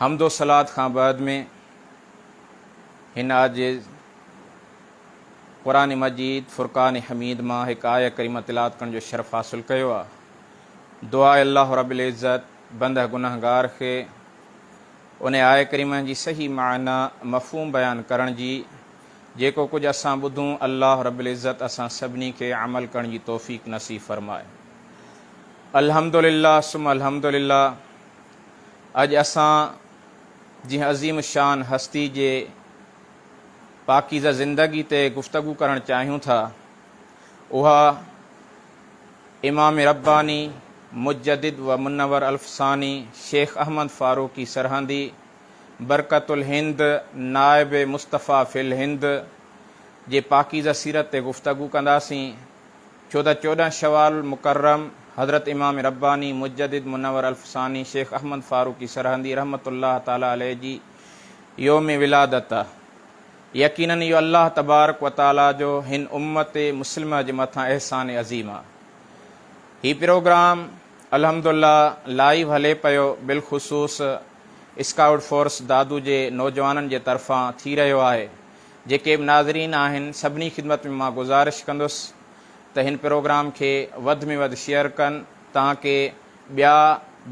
حمد و صلات کان بعد ۾ هن عاجز قرآن مجيد فرقان حميد مان هڪ آيه ڪريمه تلاوت ڪرڻ جو شرف حاصل ڪيو آ. دعا آهي الله رب العزت بنده گنهگار کي ان آيه ڪريمه جي صحيح معنيٰ مفهوم بيان ڪرڻ جي جيڪو ڪجهه اسان ٻڌون الله رب العزت اسان سڀني کي عمل ڪرڻ جي توفيق نصيب فرمائي. الحمدلله ثم الحمدلله. اڄ اسان جنهن عظيم الشان هستي جي پاڪيزه زندگي تي گفتگو ڪرڻ چاهيون ٿا اها امام رباني مجدد و منور الف ثاني شيخ احمد فاروقي سرهندي برڪت الهند نائب مصطفيٰ في الهند جي پاڪيزه سيرت تي گفتگو ڪنداسين ڇو ته چوڏهن شوال مڪرم حضرت امام رباني مجدد منور الف ثاني شيخ احمد فاروقي سرهندي رحمة الله تعالٰي عليه جي يوم ولادت آ. يقيناً اهو الله تبارڪ و تعالٰي جو هن امت مسلمه جي مٿان احسان عظيم آ. هي پروگرام الحمد الله لائيو هلي پيو بالخصوص اسڪائوٽ فورس دادو جي نوجوانن جي طرفان ٿي رهيو آهي جيڪي به ناظرين آهن سڀني خدمت ۾ مان گذارش ڪندس ته هن پروگرام کي وڌ ۾ وڌ شيئر ڪن تانڪه ٻيا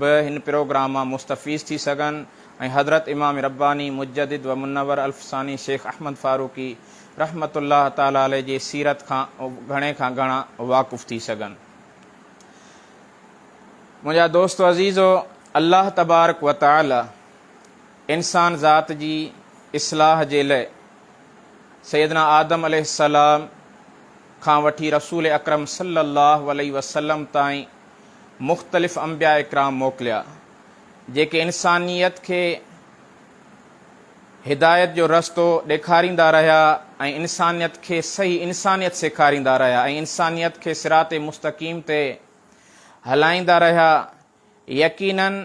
به هن پروگرام مان مستفيض ٿي سگهن ۽ حضرت امام رباني مجدد و منور الف ثاني شيخ احمد فاروقي رحمة الله تعالٰي عليه جي سيرت کان گهڻي کان گهڻا واقف ٿي سگهن. منهنجا دوستو عزيزو الله تبارڪ و تعالٰي انسان ذات جي اصلاح جي لئه سيدنا آدم عليه السلام کان وٺي رسول اڪرم صلي الله عليه وسلم تائين مختلف انبياء ڪرام موڪليا جيڪي انسانيت کي هدايت جو رستو ڏيکاريندا رهيا ۽ انسانيت کي صحيح انسانيت سيکاريندا رهيا ۽ انسانيت کي صراط مستقيم تي هلائيندا رهيا يقينن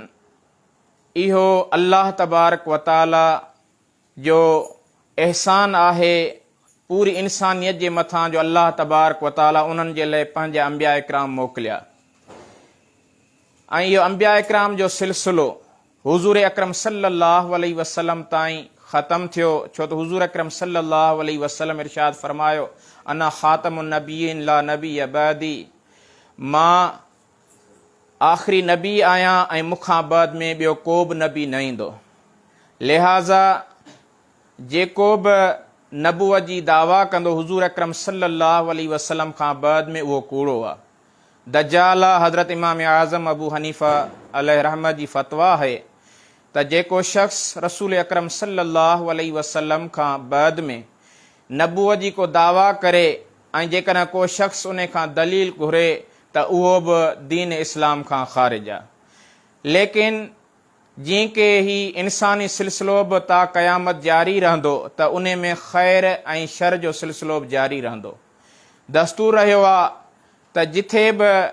اهو الله تبارڪ و تعاليٰ جو احسان آهي پوري انسانيت جي مٿان جو الله تبارڪ و تعاليٰ انهن جي لئه پنهنجا انبياء ڪرام موڪليا ۽ اهو انبياء ڪرام جو سلسلو حضور اڪرم صلي الله عليه وسلم تائين ختم ٿيو ڇو ته حضور اڪرم صلي الله عليه وسلم ارشاد فرمايو انا خاتم النبيين لا نبي بعدي مان آخري نبي آهيان ۽ مون کان بعد ۾ ٻيو ڪو به نبي نه ايندو. لهٰذا جيڪو به نبوت جي دعويٰ ڪندو حضور اڪرم صلّي اللّٰه عليه وسلّم کان بعد ۾ اهو ڪوڙو آهي. دجال آهي. حضرت امام اعظم ابو حنيفه عليه الرحمة جي فتويٰ آهي ته جيڪو شخص رسول اڪرم صلّي اللّٰه عليه وسلّم کان بعد ۾ نبوت جي ڪو دعويٰ ڪري ۽ جيڪڏهن ڪو شخص انهي کان دليل گهري ته اهو به دين اسلام کان خارج آ. ليڪن جئين ڪي هي انساني سلسلو به تا قيامت جاري رهندو ته انهي ۾ خير ۽ شر جو سلسلو به جاري رهندو. دستور رهيو آ ته جٿي به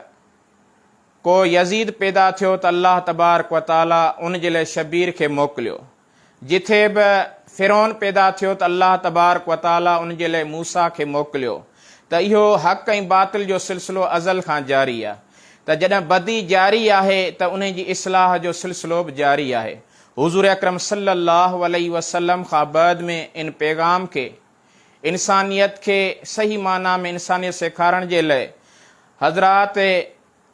ڪو يزيد پيدا ٿيو ته الله تبارڪ و تعالي ان جي لاء شبير کي موڪليو. جتي به فرعون پيدا ٿيو ته الله تبارڪ وتعالي ان جي لاء موسيٰ کي موڪليو ته اهو حق ۽ باطل جو سلسلو ازل کان جاري آهي ته جڏهن بدي جاري آهي ته انهي جي اصلاح جو سلسلو به جاري آهي حضور اڪرم صلي الله عليه وسلم کان بعد ۾ ان پيغام کي انسانيت کي صحيح معنيٰ ۾ انسانيت سيکارڻ جي لاء حضرات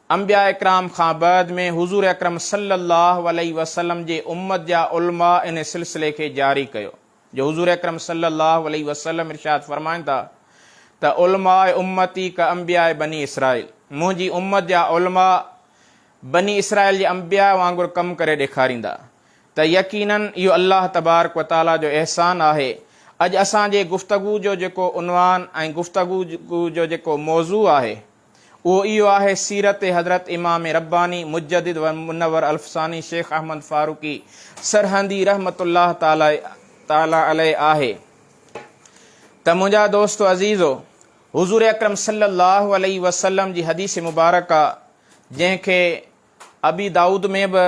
انبياء ڪرام کان بعد ۾ حضور اڪرم صلّي اللّٰه عليه وسلّم جي امّت جا علماء ان سلسلي کي جاري ڪيو جو حضور اڪرم صلّي اللّٰه عليه وسلّم ارشاد فرمائن ٿا ته علماء امّتي ڪانبياء بني اسرائيل منهنجي امّت جا علماء بني اسرائيل جي انبياء وانگر ڪم ڪري ڏيکاريندا ته يقيناً اهو الله تبارڪ وتعالٰي جو احسان آهي اڄ اسان جي گفتگو جو جيڪو عنوان ۽ گفتگو جو جيڪو موضوع آهي اهو اهو آهي سيرت حضرت امام رباني مجدد و منور الف ثاني شيخ احمد فاروقي سرهندي رحمة الله تعالٰي عليه آهي ته منهنجا دوستو عزيزو حضور اڪرم صلي الله عليه وسلم جي حديث مبارڪه جنهن کي ابي دائود ۾ به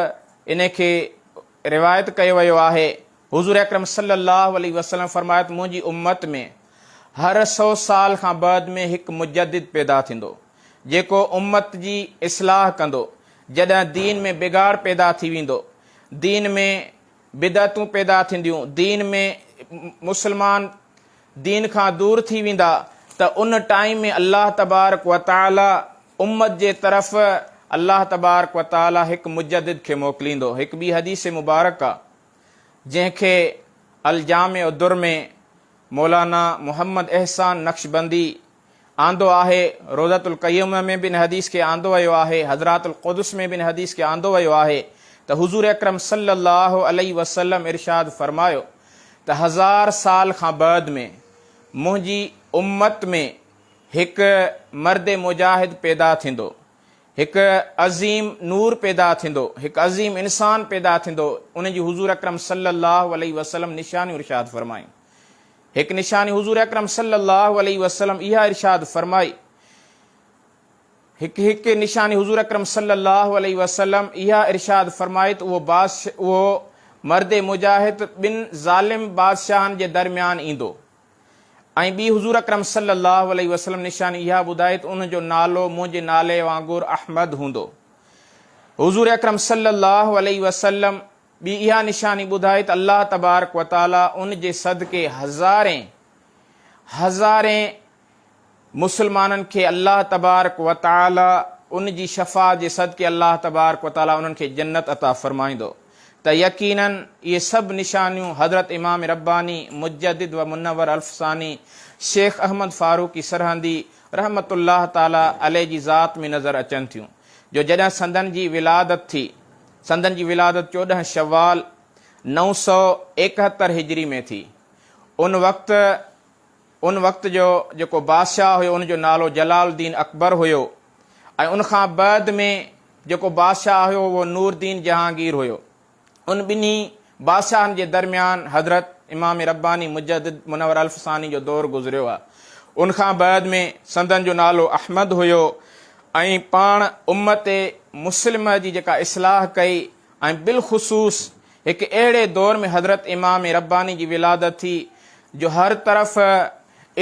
ان کي روايت ڪيو ويو آهي، حضور اڪرم صلي الله عليه وسلم فرمايو ته منهنجي امت ۾ هر سؤ سال کان بعد ۾ هڪ مجدد پيدا ٿيندو، جيڪو امت جي اصلاح ڪندو، جڏهن دين ۾ بگاڙ پيدا ٿي ويندو، دين ۾ بدعتون پيدا ٿينديون، دين ۾ مسلمان دين کان دور ٿي ويندا ته ان ٽائيم ۾ الله تبارڪ وتعالي امت جي طرف الله تبارڪ وتعالي هڪ مجدد کي موڪليندو هڪ ٻي حديث مبارڪه جنهن کي الجامع الدر ۾ مولانا محمد احسان نقشبندي آندو آهي، روضة القيمة ۾ به ان حديث کي آندو ويو آهي، حضرات القدس ۾ به ان حديث کي آندو ويو آهي ته حضور اڪرم صلّي اللّٰه عليه وسلّم ارشاد فرمايو ته هزار سال کان بعد ۾ منهنجي امّت ۾ هڪ مرد مجاهد پيدا ٿيندو، هڪ عظيم نور پيدا ٿيندو، هڪ عظيم انسان پيدا ٿيندو، ان جون حضور اڪرم صلّي اللّٰه عليه وسلّم نشانيون ارشاد فرمايون. هڪ نشاني حضور اڪرم صلي الله عليه وسلم اها ارشاد فرمائي هڪ هڪ نشاني حضور اڪرم صلي الله عليه وسلم اها ارشاد فرمائي ته اهو بادشاهه اهو مرد مجاهد ٻن ظالم بادشاهن جي درميان ايندو ۽ ٻي حضور اڪرم صلي الله عليه وسلم نشاني اها ٻڌائي ته ان جو نالو منهنجي نالي وانگر احمد هوندو حضور اڪرم صلي الله عليه وسلم ٻي اها نشاني ٻڌائي ته الله تبارڪ و تعاليٰ ان جي صدقي هزارين هزارين مسلمانن کي الله تبارڪ و تعاليٰ ان جي شفاعت جي صدقي الله تبارڪ و تعاليٰ انهن کي جنت عطا فرمائيندو ته يقيناً اهي سڀ نشانيون حضرت امام رباني مجدد و منور الف ثاني شيخ احمد فاروقي سرهندي رحمة الله تعاليٰ عليه جي ذات ۾ نظر اچن ٿيون جو جڏهن سندن جي ولادت ٿي سندن جي ولادت چوڏهن شوال نو سؤ ايڪهتر هجري ۾ ٿي. ان وقت ان وقت جو جيڪو بادشاهه هيو ان جو نالو جلال الدين اڪبر هيو ۽ ان کان بعد ۾ جيڪو بادشاهه هيو اهو نوردين جهانگير هيو. ان ٻنهي بادشاهن جي درميان حضرت امام رباني مجدد منور الف ثاني جو دور گذريو آ. ان کان بعد ۾ سندن جو نالو احمد هيو ۽ پاڻ امت مسلمه جي جيڪا اصلاح ڪئي ۽ بالخصوص هڪ اهڙي دور ۾ حضرت امام رباني جي ولادت ٿي جو هر طرف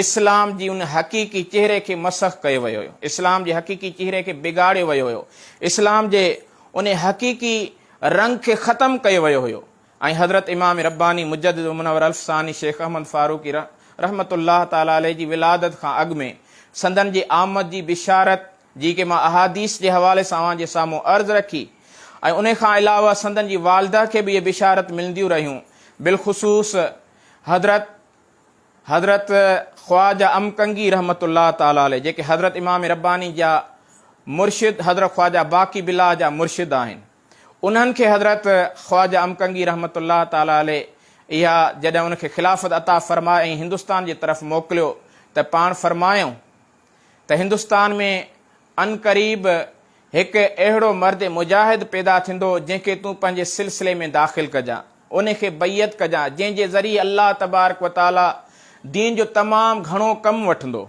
اسلام جي ان حقيقي چهري کي مسخ ڪيو ويو هيو. اسلام جي حقيقي چهري کي بگاڙيو ويو هيو. اسلام جي ان حقيقي رنگ کي ختم ڪيو ويو هيو ۽ حضرت امام رباني مجدد و منور الف ثاني شيخ احمد فاروقي رحمة الله تعالٰي عليه جي ولادت کان اڳ ۾ سندن جي آمد جي بشارت جي ڪي مان احاديث جي حوالي سان اوهان جي سامهون عرض رکي ۽ انهي کان علاوه سندن جي والده کي به اهي بشارت ملنديون رهيون بالخصوص حضرت حضرت خواجه ام ڪنگي رحمة الله تعالٰي عليه جيڪي حضرت امام رباني جا مرشد حضرت خواجه باقي بالله جا مرشد آهن انهن کي حضرت خواجه ام ڪنگي رحمة الله تعالٰي عليه اها جڏهن ان کي خلافت عطا فرمائي ۽ هندستان جي طرف موڪليو ته پاڻ فرمايائون ته هندستان ۾ عنقريب هڪ اهڙو مرد مجاهد پيدا ٿيندو جنهن کي تون پنهنجي سلسلي ۾ داخل ڪجان، ان کي بيعت ڪجان جنهن جي ذريعي الله تبارڪ و تعاليٰ دين جو تمام گهڻو ڪم وٺندو.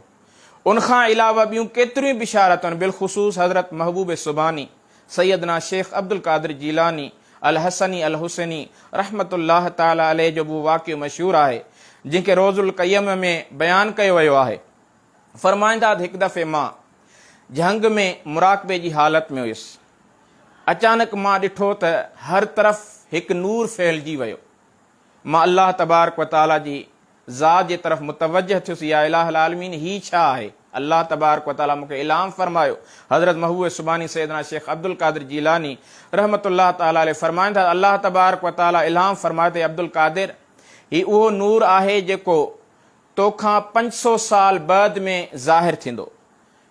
ان کان علاوه ٻيون ڪيتريون ئي بشارتون بالخصوص حضرت محبوب سبحاني، سيدنا شيخ عبدالقادر جيلاني، الحسني الحسيني رحمة الله تعاليٰ عليه جو به واقعو مشهور آهي جنهن کي روض القيم ۾ بيان ڪيو ويو آهي. فرمائنداد هڪ دفعي مان جهنگ ۾ مراقبي جي حالت ۾ هيس. اچانڪ مان ڏٺو ته هر طرف هڪ نور ڦهلجي ويو. مان الله تبارڪ و تعاليٰ جي ذات جي طرف متوجهه ٿيس يا اله العالمين هي ڇا آهي؟ الله تبارڪ و تعاليٰ مون کي الهام فرمايو. حضرت محبوب سبحاني سيدنا شيخ عبدالقادر جيلاني رحمة الله تعاليٰ عليه فرمائنداد الله تبارڪ و تعاليٰ الهام فرمايو ته اي عبدالقادر! هي اهو نور آهي جيڪو توکان پنج سو سال بعد ۾ ظاهر ٿيندو.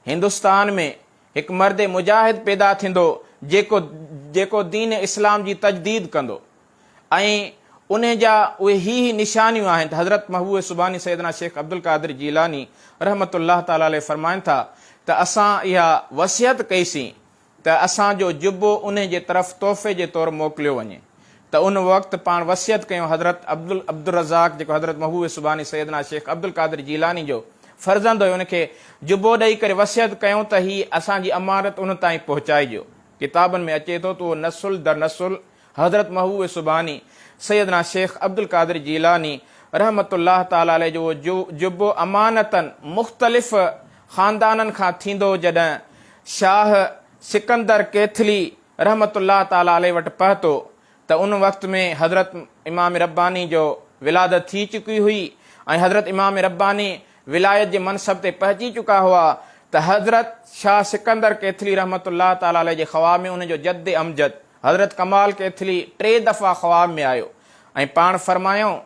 هندستان ۾ هڪ مرد مجاهد پيدا ٿيندو جيڪو جيڪو دين اسلام جي تجديد ڪندو ۽ انهي جا اهي هي هي نشانيون آهن ته حضرت محبوب سبحاني سيدنا شيخ عبدالقادر جيلاني رحمة الله تعالٰي عليه فرمائن ٿا ته اسان اها وصيت ڪئي سين ته اسان جو جبو انهي جي طرف تحفي جي طور موڪليو وڃي ته ان وقت پاڻ وصيت ڪيو حضرت عبدالرزاق جيڪو حضرت محبوب سبحاني سيدنا شيخ عبدالقادر جيلاني جو فرزند هيو ان کي جبو ڏئي ڪري وصيت ڪيو ته هي اسان جي امانت انهن تائين پهچائجو ڪتابن ۾ اچي ٿو ته اهو نسل در نسل حضرت محبوب سبحاني، سيدنا شيخ عبدالقادر جيلاني رحمة الله تعالٰي عليه جو جو جبو امانتن مختلف خاندانن کان ٿيندو جڏهن شاهه سڪندر ڪيٿلي رحمة الله تعالٰي عليه وٽ پهتو ته ان وقت ۾ حضرت امام رباني جو ولادت ٿي چڪي هئي ۽ حضرت امام رباني ولايت جي منصب تي پهچي چڪا هئا ته حضرت شاهه سڪندر ڪيٿلي رحمة الله تعالٰي عليه جي خواهه ۾ ان جو جد امجد حضرت ڪمال ڪيٿلي ٽي دفعا خواب ۾ آيو ۽ پاڻ فرمايائون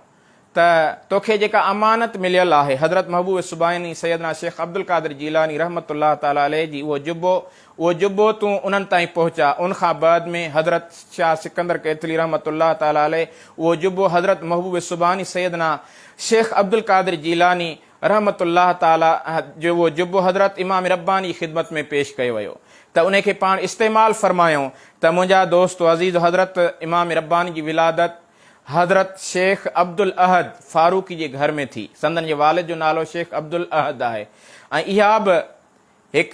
ته توکي جيڪا امانت مليل آهي حضرت محبوب سبحاني سيدنا شيخ عبدالقادر جيلاني رحمة الله تعالٰي عليه جي اهو جبو اهو جبو تون انهن تائين پهچاء ان کان بعد ۾ حضرت شاهه سڪندر ڪيٿلي رحمة الله تعالٰي عليه اهو جبو حضرت محبوب سبحاني سيدنا شيخ عبدالقادر جيلاني رحمة الله تعالٰي جو اهو جبو حضرت امام رباني جي خدمت ۾ پيش ڪيو ويو ته ان کي پاڻ استعمال فرمايائون ته منهنجا دوست و عزيزو حضرت امام رباني جي ولادت حضرت شيخ عبدالاحد فاروقي جي گهر ۾ ٿي سندن جي والد جو نالو شيخ عبدالاحد آهي ۽ اها به هڪ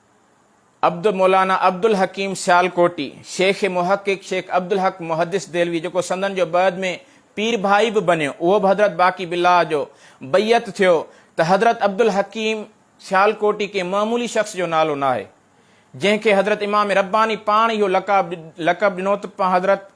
عبد مولانا عبدالحڪيم سيالڪوٽي، شيخ محقق شيخ عبدالحق محدث دهلوي جيڪو سندن جو بعد ۾ پير ڀائي به بنيو اهو به حضرت باقي بالله جو بيعت ٿيو ته حضرت عبدالحڪيم سيالڪوٽي ڪنهن معمولي شخص جو نالو ناهي جنهن کي حضرت امام رباني پاڻ اهو لقب لقب ڏنوته حضرت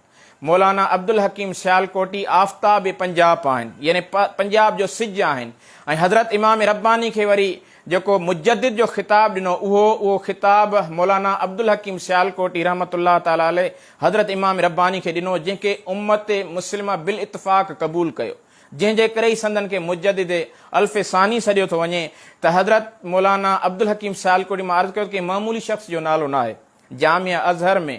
مولانا عبدالحڪيم سيالڪوٽي آفتاب پنجاب آهن يعني پنجاب جو سج آهن ۽ حضرت امام رباني کي وري جيڪو مجدد جو خطاب ڏنو اهو اهو خطاب مولانا عبدالحڪيم سيالڪوٽي رحمة الله تعالٰي عليه حضرت امام رباني کي ڏنو جنهن کي امت مسلمه بالاتفاق قبول ڪيو جنهن جي ڪري ئي سندن کي مجدد الف ثاني سڏيو ٿو وڃي ته حضرت مولانا عبدالحڪيم سيالڪوٽي مان عرض ڪيو ته ڪنهن معمولي شخص جو نالو ناهي جامع اظهر ۾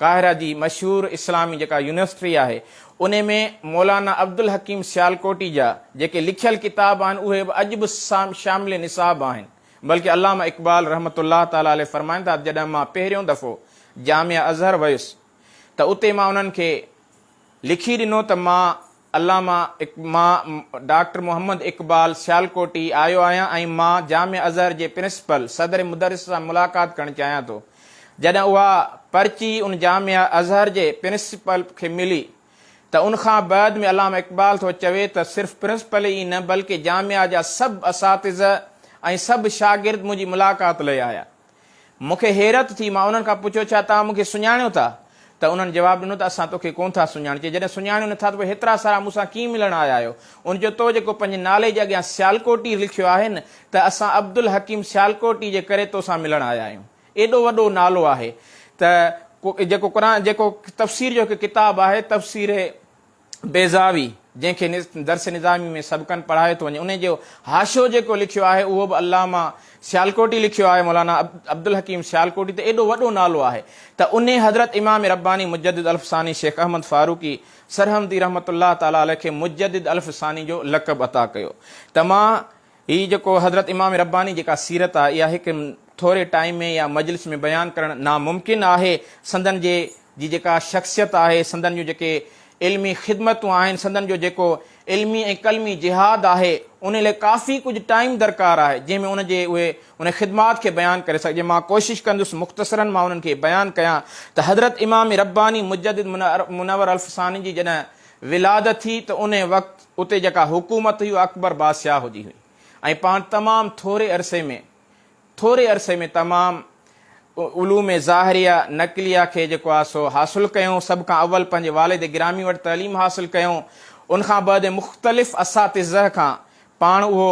قاهره جي مشهور اسلامي جيڪا يونيورسٽري آهي انهي ۾ مولانا عبدالحڪيم سيالڪوٽي جا جيڪي لکيل ڪتاب آهن اهي به اڄ به شامل نصاب آهن بلڪه علامه اقبال رحمة الله تعالٰي عليه فرمائن ٿا جڏهن مان پهريون دفعو جامعه اظهر ويس ته اتي مان انهن کي لکي ڏنو ته مان علامه اق مان ڊاڪٽر محمد اقبال سيالڪوٽي آيو آهيان ۽ مان جامع اظهر جي پرنسپل صدر مدرس سان ملاقات ڪرڻ چاهيان ٿو جڏهن اها پرچي ان جامع اظهر جي پرنسپل کي ملي ته ان کان بعد ۾ علامه اقبال ٿو چوي ته صرف پرنسپل ئي نه بلڪه جامع جا سڀ اساتذه ۽ سڀ شاگرد منهنجي ملاقات لئي آيا مون کي حيرت ٿي. مان انهن کان پڇيو، ڇا توهان مون کي سڃاڻيو ٿا؟ ته انهن جواب ڏنو ته اسان تو کي ڪونه ٿا سڃاڻجي. جڏهن سڃاڻيو نه ٿا ته پوء هيترا سارا مون سان ڪيئن ملڻ آيا آهيو؟ انهن چيو، تو جيڪو پنهنجي نالي جي اڳيان سيالڪوٽي لکيو آهي نه ته اسان عبدالحڪيم سيالڪوٽي جي ڪري تو سان ملڻ آيا آهيون. ايڏو وڏو نالو آهي ته جيڪو قرآن جيڪو تفسير جو هڪ ڪتاب آهي تفسير. بيضاوي، جنهن کي درس نظامي ۾ سبقن پڙهايو ٿو وڃي، ان جو حاشو جيڪو لکيو آهي، اهو به علامه سيالڪوٽي لکيو آهي، مولانا عبدالحڪيم سيالڪوٽي ته ايڏو وڏو نالو آهي ته انهي حضرت امام رباني مجدد الف ثاني شيخ احمد فاروقي سرهندي رحمة الله تعالٰي عليه کي مجدد الف ثاني جو لقب عطا ڪيو ته مان هي جيڪو حضرت امام رباني جيڪا سيرت آ اها هڪ ٿوري ٽائيم ۾ يا مجلس ۾ بيان ڪرڻ ناممڪن آهي سندن جي جي جيڪا شخصيت آهي سندن جون جيڪي علمي خدمتون آهن سندن جو جيڪو علمي ۽ قلمي جهاد آهي انهي لئي ڪافي ڪجهه ٽائيم درڪار آهي جنهن ۾ ان جي اهي انهي خدمات کي بيان ڪري سگهجي مان ڪوشش ڪندس مختصرا مان انهن کي بيان ڪيان ته حضرت امام رباني مجدد منور الف ثاني جي جڏهن ولادت ٿي ته انهي وقت اتي جيڪا حڪومت هئي اها اڪبر بادشاهه جي هئي ۽ پاڻ تمام ٿوري عرصي ۾ ٿوري عرصي ۾ تمام علوم ظاهريه، نقليه کي جيڪو آهي سو حاصل ڪيو، سڀ کان اول پنهنجي والد گرامي وٽ تعليم حاصل ڪيو، ان کان بعد مختلف اساتذه کان پاڻ اهو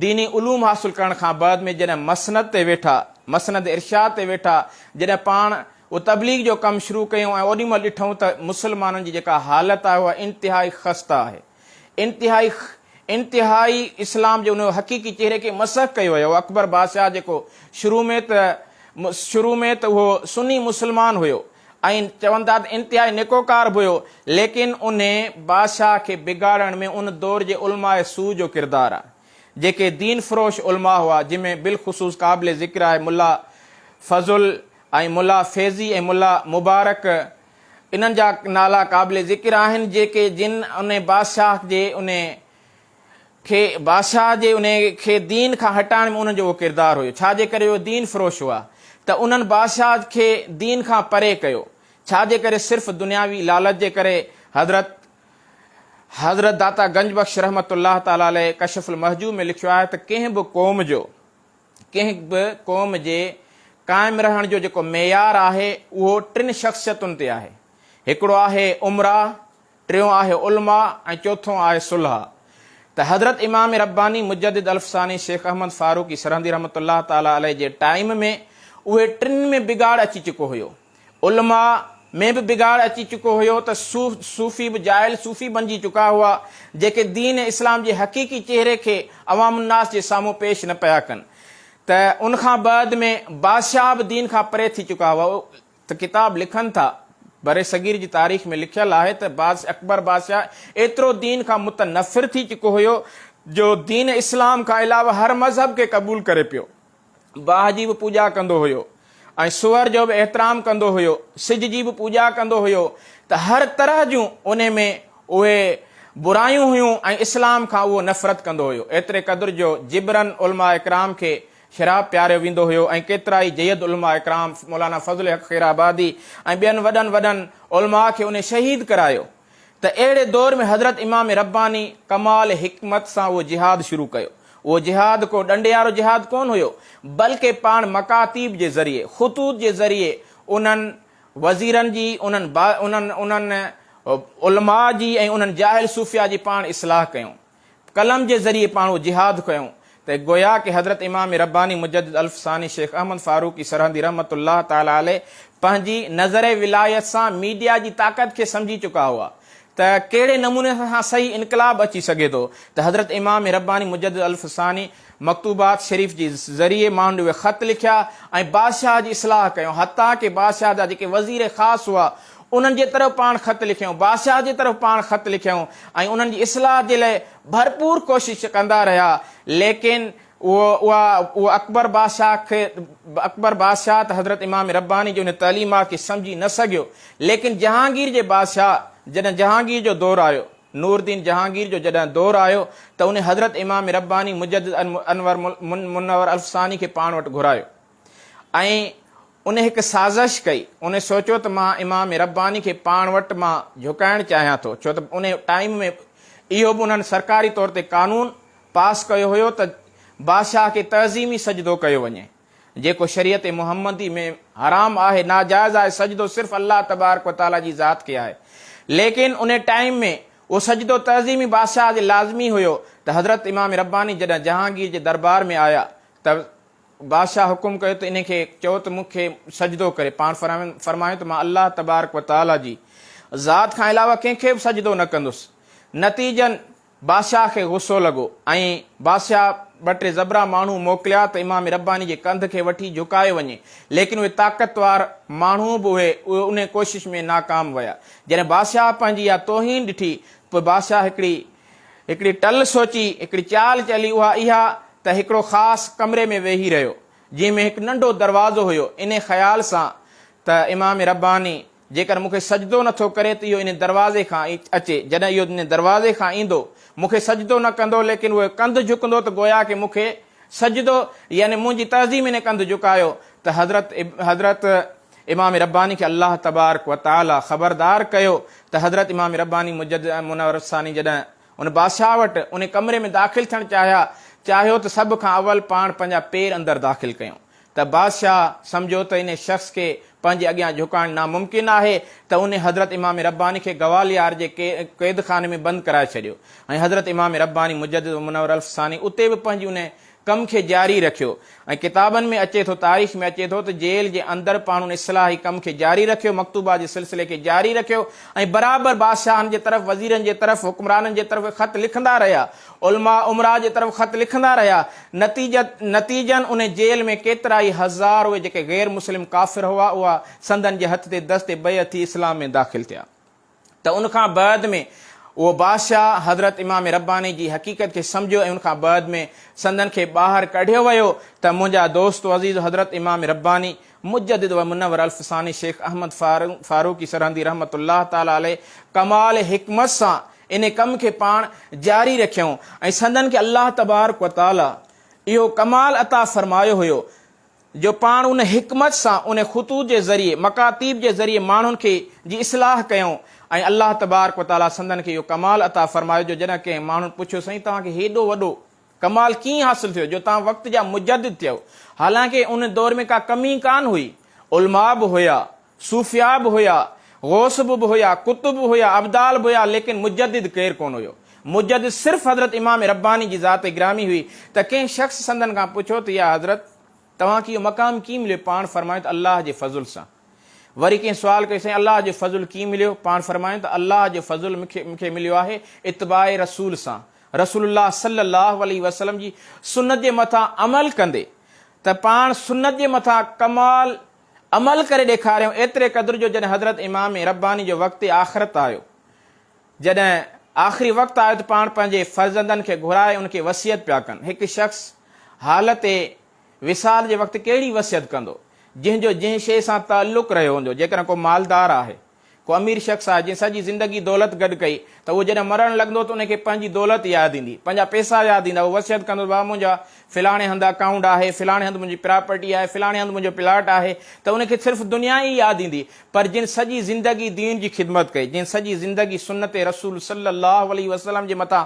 ديني علوم حاصل ڪرڻ کان بعد ۾ جڏهن مسند تي ويٺا، مسند ارشاد تي ويٺا، جڏهن پاڻ و تبليغ جو ڪم شروع ڪيون ۽ اوڏي مهل ڏٺون ته مسلمانن جي جيڪا حالت آهي اها انتهائي خسته آهي. انتهائي انتهائي اسلام جي ان حقيقي چهري کي مسخ ڪيو ويو آهي. اڪبر بادشاهه جيڪو شروع ۾ ته شروع ۾ ته اهو سني مسلمان هيو. ائين چون ٿا ته انتهائي نڪوڪار به هيو، ليڪن ان بادشاهه کي بگاڙڻ ۾ ان دور جي علماء سوء جو ڪردار آهي، جيڪي دين فروش علماء هئا، جن ۾ بالخصوص قابل ذڪر آهي ملا فضل ۽ ملا فيضي ۽ ملا مبارڪ، انهن جا نالا قابل ذڪر آهن، جيڪي جن ان بادشاهه جي ان کي بادشاهه جي انهي کي دين کان هٽائڻ ۾ انهن جو اهو ڪردار هيو ڇا جي ڪري اهي دين فروش هئا ته انهن بادشاهه کي دين کان پري ڪيو ڇا جي ڪري صرف دنياوي لالچ جي ڪري حضرت حضرت داتا گنج بخش رحمت الله تعالٰي عليه ڪشف المحجوب ۾ لکيو آهي ته ڪنهن به قوم جو ڪنهن به قوم جي قائم رهڻ جو جيڪو معيار آهي اهو ٽن شخصيتن تي آهي هڪڙو آهي امراء ٽيون آهي علماء ۽ چوٿون آهي صلح ته حضرت امام رباني مجدد الف ثاني شيخ احمد فاروقي سرهندي رحمة الله تعالٰي عليه جي ٽائيم ۾ اهي ٽن ۾ بگاڙ اچي چڪو هيو علماء ۾ به بگاڙ اچي چڪو هيو ته صوفي به جاهل صوفي بنجي چڪا هئا جيڪي دين اسلام جي حقيقي چهري کي عوام الناس جي سامهون پيش نه پيا ڪن ته ان کان بعد ۾ بادشاهه به دين کان پري ٿي چڪا هئا ته ڪتاب لکن ٿا. برصغير جي تاريخ ۾ لکيل آهي ته بادشاهه اڪبر بادشاهه ايترو دين کان متنفر ٿي چڪو هيو جو دين اسلام کان علاوه هر مذهب کي قبول ڪري پيو. باهه جي به پوڄا ڪندو هيو ۽ سوئر جو به احترام ڪندو هيو، سج جي به پوڄا ڪندو هيو ته هر طرح جون انهي ۾ اهي برايون هيون ۽ اسلام کان اهو نفرت ڪندو هيو ايتري قدر جو جبرن علماء ڪرام کي شراب پياريو ويندو هيو ۽ ڪيترائي جيد علماء ڪرام مولانا فضل حق خيرآبادي ۽ ٻين وڏن وڏن علماء کي انهي شهيد ڪرايو ته اهڙي دور ۾ حضرت امام رباني ڪمال حڪمت سان اهو جهاد شروع ڪيو اهو جهاد ڪو ڏنڊيارو جهاد ڪون هيو بلڪه پاڻ مڪاتيب جي ذريعي خطوط جي ذريعي انهن وزيرن جي انهن انهن علماء جي ۽ انهن جاهل صوفيا جي پاڻ اصلاح ڪيون. قلم جي ذريعي پاڻهو جهاد ڪيون ته گويا ڪي حضرت امام رباني مجدد الف ثاني شيخ احمد فاروقي سرهندي رحمة الله تعالٰي عليه پنهنجي نظر ولايت سان ميڊيا جي طاقت کي سمجهي چڪا هئا ته ڪهڙي نموني سان صحيح انقلاب اچي سگهي ٿو ته حضرت امام رباني مجدد الف ثاني مڪتوبات شريف جي ذريعي مانڊوي خط لکيا ۽ بادشاهه جي اصلاح ڪيون حتيٰ ڪي بادشاهه جا جيڪي وزير خاص هئا انهن جي طرف پاڻ خط لکيون، بادشاهه جي طرف پاڻ خط لکيون ۽ انهن جي اصلاح جي لئه ڀرپور ڪوشش ڪندا رهيا ليڪن اهو اها اهو اڪبر بادشاهه کي اڪبر بادشاهه ته حضرت امام رباني جي ان تعليمات کي سمجهي نه سگهيو ليڪن جهانگير جي بادشاهه جڏهن جهانگير جو دور آيو نوردين جهانگير جو جڏهن دور آيو ته انهي حضرت امام رباني مجدد انور منور الفساني کي پاڻ وٽ گهرايو. ۽ ان هڪ سازش ڪئي. ان سوچيو ته مان امام رباني کي پاڻ وٽ مان جهڪائڻ چاهيان ٿو، ڇو ته ان ٽائيم ۾ اهو به انهن سرڪاري طور تي قانون پاس ڪيو هيو ته بادشاهه کي تعظيمي سجدو ڪيو وڃي، جيڪو شريعت محمدي ۾ حرام آهي، ناجائز آهي، سجدو صرف الله تبارڪ و تعاليٰ جي ذات کي آهي. ليڪن ان ٽائيم ۾ اهو سجدو تعظيمي بادشاهه جي لازمي هيو ته حضرت امام رباني جڏهن جهانگير جي دربار ۾ آيا ته بادشاهه حڪم ڪيو ته انهي کي چئو ته مون کي سجدو ڪري. پاڻ فرمايو ته مان الله تبارڪ و تعاليٰ جي ذات کان علاوه ڪنهن کي به سجدو نه ڪندس. نتيجن بادشاهه کي غصو لڳو ۽ بادشاهه ٻه ٽي زبرا ماڻهو موڪليا ته امام رباني جي ڪنڌ کي وٺي جهڪايو وڃي. ليڪن اهي طاقتور ماڻهو به اهي انهي ڪوشش ۾ ناڪام ويا. جڏهن بادشاهه پنهنجي اها توهين ڏٺي ته پوء بادشاهه هڪڙي هڪڙي ٽل سوچي، هڪڙي چال چلي اها اها ته هڪڙو خاص ڪمري ۾ ويهي رهيو، جنهن ۾ هڪ ننڍو دروازو هيو، انهي خيال سان ته امام رباني جيڪر مون کي سجدو نه ٿو ڪري ته اهو انهي دروازي کان اچي، جڏهن اهو انهي دروازي کان ايندو، مون کي سجدو نه ڪندو، ليڪن اهو ڪنڌ جهڪندو ته گويا ڪي مون کي سجدو يعني منهنجي تعظيم انهي ڪنڌ جهڪايو ته حضرت حضرت. امام رباني کي الله تبارڪ و تعالي خبردار ڪيو ته حضرت امام رباني مجدد ۽ منور ثاني جڏهن ان بادشاهه وٽ انهي ڪمري ۾ داخل ٿيڻ چاهيا چاهيو ته سڀ کان اول پاڻ پنهنجا پير اندر داخل ڪيون ته بادشاهه سمجهيو ته انهي شخص کي پنهنجي اڳيان جهڪائڻ ناممڪن آهي ته انهي حضرت امام رباني کي گواليار جي قيدخاني ۾ بند ڪرائي ڇڏيو ۽ حضرت امام رباني مجدد و منورالف ثاني اتي به پنهنجي انهي ڪم کي جاري رکيو ۽ ڪتابن ۾ اچي ٿو تاريخ ۾ اچي ٿو ته جيل جي اندر پاڻهن اصلاحي ڪم کي جاري رکيو مڪتوبات جي سلسلي کي جاري رکيو ۽ برابر بادشاهن جي طرف وزيرن جي طرف حڪمرانن جي طرف خط لکندا رهيا علماء امراء جي طرف خط لکندا رهيا نتيجه نتيجن ان جيل ۾ ڪيترائي هزار اهي جيڪي غير مسلم ڪافر هئا اها سندن جي هٿ تي دست بيعت ٿي اسلام ۾ داخل ٿيا. ته ان کان بعد ۾ اهو بادشاهه حضرت امام رباني جي حقيقت کي سمجهيو ۽ ان کان بعد ۾ سندن کي ٻاهر ڪڍيو ويو ته منهنجا دوست و عزيز حضرت امام رباني مجدد و منور الف ثاني شيخ احمد فاروقي سرهندي رحمة الله تعالٰي عليه ڪمال حڪمت سان ان ڪم کي پاڻ جاري رکيائون ۽ سندن کي الله تبارڪ و تعالٰي اهو ڪمال عطا فرمايو هيو جو پاڻ ان حڪمت سان ان خطوط جي ذريعي، مڪاتيب جي ذريعي ماڻهن کي جي اصلاح ڪيائون ۽ الله تبارڪ و تعاليٰ سندن کي اهو ڪمال عطا فرمايو جو جڏهن ڪنهن ماڻهن پڇيو سائين توهان کي هيڏو وڏو ڪمال ڪيئن حاصل ٿيو جو توهان وقت جا مجدد ٿيئو حالانڪه ان دور ۾ ڪا ڪمي ڪانه هئي علماء به هيا صوفياء به هيا، غوث به به هيا، قطب به هيا، ابدال به هيا ليڪن مجدد ڪير ڪونه هيو. مجدد صرف حضرت امام رباني جي ذات گرامي هئي ته ڪنهن شخص سندن کان پڇيو ته يا حضرت! توهان کي اهو مقام ڪيئن مليو؟ پاڻ فرمايو ته الله جي فضل سان. وري ڪنهن سوال ڪيو سائين الله جو فضل ڪيئن مليو؟ پاڻ فرمايو ته الله جو فضل مون کي مون کي مليو آهي اتباع رسول سان. رسول الله صلي الله عليه وسلم جي سنت جي مٿان عمل ڪندي ته پاڻ سنت جي مٿان ڪمال عمل ڪري ڏيکاريائون ايتري قدر جو جڏهن حضرت امام رباني جو وقت آخرت آيو، جڏهن آخري وقت آيو ته پاڻ پنهنجي فرزندن کي گهرائي ان کي وصيت پيا ڪن، هڪ شخص حالت وصال جي وقت ڪهڙي وصيت ڪندو، جنهن جو جنهن شيء سان تعلق رهيو هوندو، جيڪڏهن ڪو مالدار آهي. ڪو امير شخص آهي جنهن سڄي زندگي دولت گڏ ڪئي ته اهو جڏهن مرڻ لڳندو ته ان کي پنهنجي دولت ياد ايندي، پنهنجا پئسا ياد ايندا، اهو وصيت ڪندو ته بابا منهنجا فلاڻي هنڌ اڪائونٽ آهي، فلاڻي هنڌ منهنجي پراپرٽي آهي، فلاڻي هنڌ منهنجو پلاٽ آهي ته ان کي صرف دنيا ئي ياد ايندي پر جنهن سڄي زندگي دين جي خدمت ڪئي، جنهن سڄي زندگي سنت رسول صلّي اللّٰه عليه وسلّم جي مٿان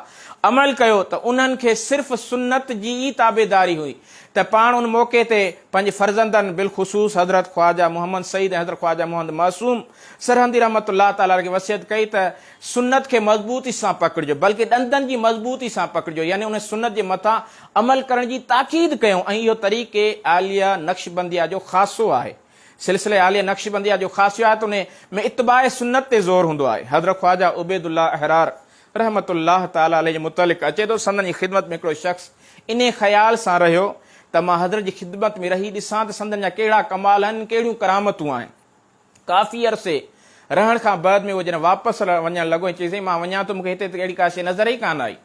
عمل ڪيو ته انهن کي صرف سنت جي ئي تابعداري هئي ته پاڻ ان موقعي تي پنهنجي فرزندن بالخصوص حضرت خواجه محمد سعيد ۽ حضرت خواجه محمد معصوم سرهندي رحمة الله تعالٰي عليه کي وصيت ڪئي ته سنت کي مضبوطي سان پڪڙجو بلڪه ڏندن جي مضبوطي سان پڪڙجو يعني انهي سنت جي مٿان عمل ڪرڻ جي تاڪيد ڪيائون ۽ اهو طريقه عاليه نقشبنديه جو خاصو آهي سلسله عاليه نقشبنديه جو خاصو آهي ته انهي ۾ اتباع سنت تي زور هوندو آهي حضرت خواجه عبيدالله احرار رحمة الله تعالٰي عليه جي متعلق اچي ٿو، سندن جي خدمت ۾ هڪڙو شخص انهيء خيال سان رهيو ته مان حضرت جي خدمت ۾ رهي ڏسان ته سندن جا ڪهڙا ڪمال آهن، ڪهڙيون ڪرامتون آهن. ڪافي عرصي رهڻ کان بعد ۾ هو جڏهن واپس وڃڻ لڳو ۽ چيس سائين مان وڃان ٿو مون کي هتي ته اهڙي ڪا شيء نظر ئي ڪانه آئي.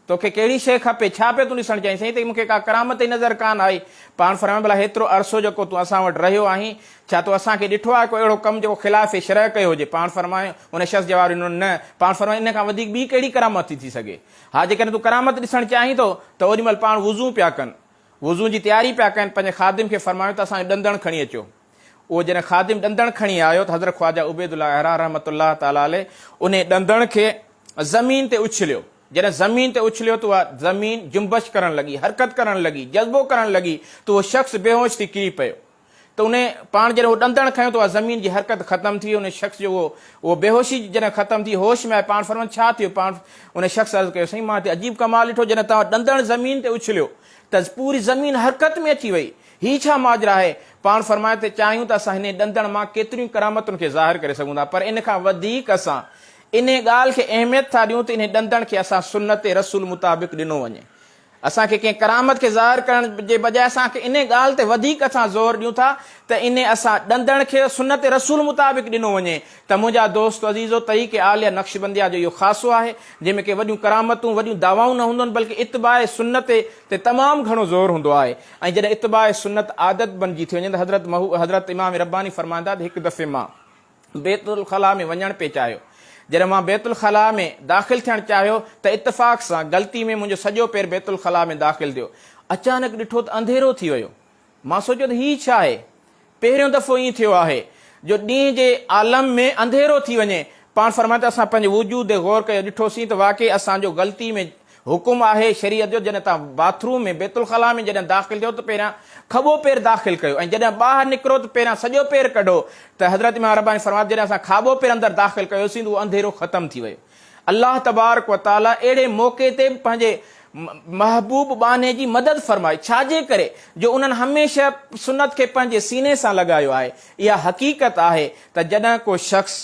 تو کي ڪهڙي شيء کپي، ڇا پيو تون ڏسڻ چاهين؟ سائين هتي مون کي ڪا ڪرامت ئي نظر ڪانه آئي. پاڻ فرمايو ڀلا هيترو عرصو جيڪو تون اسان وٽ رهيو آهين، ڇا تو اسان کي ڏٺو آهي ڪو اهڙو ڪم جيڪو خلاف شرع ڪيو هجي؟ پاڻ فرمايو، ان شخص جواب ڏنو، نه. پاڻ فرمايو، ان کان وڌيڪ ٻي ڪهڙي ڪرامت ٿي ٿي سگهي؟ ها جيڪڏهن تون ڪرامت ڏسڻ چاهين ٿو ته اوڏي مهل پاڻ وضو پيا ڪن. وضو جي تياري پيا ڪن، پنهنجي خادم کي فرمايو ته اسان جو ڏندڻ کڻي اچو. اهو جڏهن خادم ڏندڻ کڻي آيو ته حضرت خواجه عبيد الله احرار رحمة الله تعالٰي عليه انهي ڏندڻ کي زمين تي اڇليو. جڏهن زمين تي اڇليو ته اها زمين جنبش ڪرڻ لڳي، حرڪت ڪرڻ لڳي، جذبو ڪرڻ لڳي ته اهو شخص بيهوش ٿي ڪري پيو. ته ان پاڻ جڏهن اهو ڏندڻ کنيو ته اها زمين جي حرڪت ختم ٿي وئي، ان شخص جو اهو بيهوشي جڏهن ختم ٿي، هوش ۾ آيو، پاڻ فرمائن ڇا ٿيو؟ پاڻ ان شخص عرض ڪيو سائين مان هتي عجيب ڪمال ڏٺو جڏهن توهان ڏندڻ زمين تي اڇليو ته پوري زمين حرڪت ۾ اچي وئي، هي ڇا ماجرا آهي؟ پاڻ فرمائن ته چاهيون ته اسان هن ڏندڻ مان ڪيتريون ڪرامتن کي ظاهر ڪري سگهون ٿا پر ان کان وڌيڪ اسان ان ڳالهه کي اهميت ٿا ڏيون ته ان ڏندڻ کي اسان سنت رسول مطابق ڏنو وڃي اسان کي ڪنهن ڪرامت کي ظاهر ڪرڻ جي بجاء اسان کي انهي ڳالهه تي وڌيڪ اسان زور ڏيون ٿا ته انهي اسان ڏندڻ کي سنت رسول مطابق ڏنو وڃي ته منهنجا دوست عزيزو طريق عاليه نقشبنديه جو اهو خاصو آهي جنهن ۾ ڪي وڏيون ڪرامتون وڏيون دعوائون نه هوندون بلڪه اتباع سنت تي تمام گهڻو زور هوندو آهي ۽ جڏهن اتباع سنت عادت بنجي ٿي وڃي ته حضرت حضرت امام رباني فرمائندا ته هڪ دفعي مان بيت الخلاء ۾ وڃڻ پئي چاهيو. جڏهن مان بيت الخلاء ۾ داخل ٿيڻ چاهيو ته اتفاق سان غلطي ۾ منهنجو سڄو پير بيت الخلاء ۾ داخل ٿيو. اچانڪ ڏٺو ته انڌيرو ٿي ويو. مان سوچيو ته هي ڇا آهي؟ پهريون دفعو ائين ٿيو آهي جو ڏينهن جي عالم ۾ انڌيرو ٿي وڃي. پاڻ فرمائي ٿو، اسان پنهنجي وجود تي غور ڪيو، ڏٺوسين ته واقعي اسان جو غلطي ۾ حڪم آهي شريعت جو جڏهن توهان باٿ روم ۾ بيت الخلاء ۾ جڏهن داخل ٿيو ته پهريان کٻو پير داخل ڪيو ۽ جڏهن ٻاهر نڪرو ته پهريان سڄو پير ڪڍو ته حضرت امام رباني فرمايو ته جڏهن اسان کاٻو پير اندر داخل ڪيوسين ته اهو انڌيرو ختم ٿي ويو الله تبارڪ وتعالي اهڙي موقعي تي به پنهنجي محبوب ٻانهي جي مدد فرمائي ڇاجي ڪري جو انهن هميشه سنت کي پنهنجي سيني سان لڳايو آهي اها حقيقت آهي ته جڏهن ڪو شخص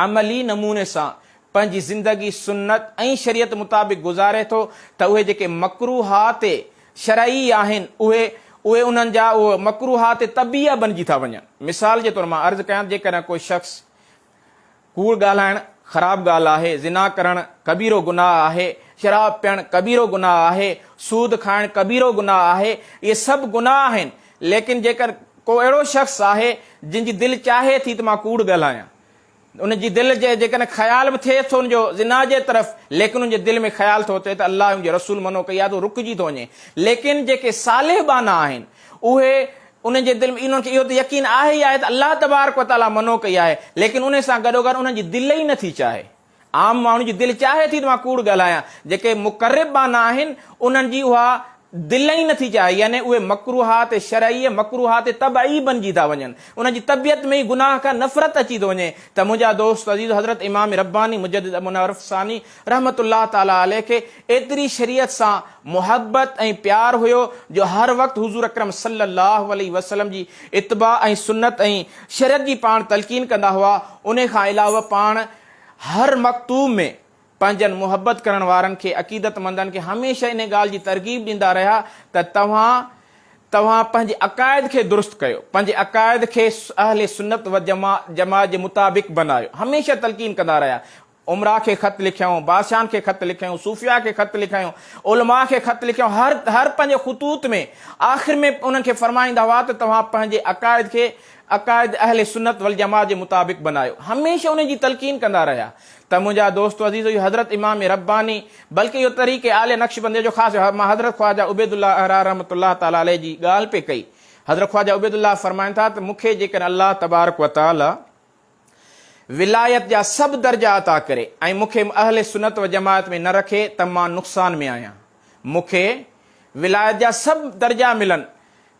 عملي نموني سان پنهنجي زندگي سنت ۽ شريعت مطابق گذاري ٿو ته اهي جيڪي مڪروهات شرعي آهن اهي اهي انهن جا اهي مڪروهات طبيعه بنجي ٿا وڃن. مثال جي طور مان عرض ڪيان ته جيڪڏهن ڪو شخص ڪوڙ ڳالهائڻ خراب ڳالهه آهي، زنا ڪرڻ ڪبيرو گناهه آهي، شراب پيئڻ ڪبيرو گناهه آهي، سود کائڻ ڪبيرو گناهه آهي، اهي سڀ گناهه آهن، ليڪن جيڪڏهن ڪو اهڙو شخص آهي جنهن جي دل چاهي ٿي ته مان ڪوڙ ڳالهايان ان جي دل جي جيڪڏهن خيال به ٿئيس ٿو ان جو زنا جي طرف ليڪن ان جي دل ۾ خيال ٿو اچي ته الله ۽ ان جي رسول منع ڪئي آهي ته هو رڪجي ٿو وڃي ليڪن جيڪي صالح ٻانها آهن اهي انهن جي دل ۾ انهن کي اهو ته يقين آهي ئي آهي ته الله تبارڪ وتعاليٰ منع ڪئي آهي ليڪن انهي سان گڏوگڏ انهن جي دل ئي نٿي چاهي عام ماڻهن جي دل چاهي ٿي ته مان ڪوڙ ڳالهايان، جيڪي مقرب ٻانها آهن، انهن جي اها دل ئي نٿي چاهي، يعني اهي مڪروهات شرعيء، مڪروهات طبعي بنجي ٿا وڃن، انهن جي طبيعت ۾ ئي گناهه کان نفرت اچي ٿو وڃي ته منهنجا دوست عزيز حضرت امام رباني مجدد ابوالنوارف ثاني رحمة الله تعالٰي عليه کي ايتري شريعت سان محبت ۽ پيار هيو جو هر وقت حضور اڪرم صلّي الله عليه وسلّم جي اتباع ۽ سنّت ۽ شريعت جي پاڻ تلقين ڪندا هئا، انهي کان علاوه پاڻ هر مڪتوب ۾ پنهنجن محبت ڪرڻ وارن کي عقيدتمندن کي هميشه انهي ڳالهه جي ترغيب ڏيندا رهيا ته توهان توهان پنهنجي عقائد کي درست ڪيو، پنهنجي عقائد کي اهل سنت والجماعت جي مطابق بنايو. هميشه تلقين ڪندا رهيا. امراء کي خط لکيائون، بادشاهن کي خط لکيائون، صوفياء کي خط لکيائون، علماء کي خط لکيائون، هر هر پنهنجي خطوط ۾ آخر ۾ انهن کي فرمائيندا هئا ته توهان پنهنجي عقائد کي عقائد اهل سنت والجماعت جي مطابق بنايو هميشه انهي جي تلقين ڪندا رهيا ته منهنجا دوستو عزيزو اهو حضرت امام رباني بلڪه اهو طريقه عاليه نقشبنديه جو خاص مان حضرت خواجه عبيد الله احرار رحمة الله تعالٰي عليه جي ڳالهه پئي ڪئي حضرت خواجه عبيد الله فرمائن ٿا ته مون کي جيڪڏهن الله تبارڪ وتعالٰي ولايت جا سڀ درجا عطا ڪري ۽ مون کي اهل سنت و جماعت ۾ نه رکي ته مان نقصان ۾ آهيان مون کي ولايت جا سڀ درجا ملن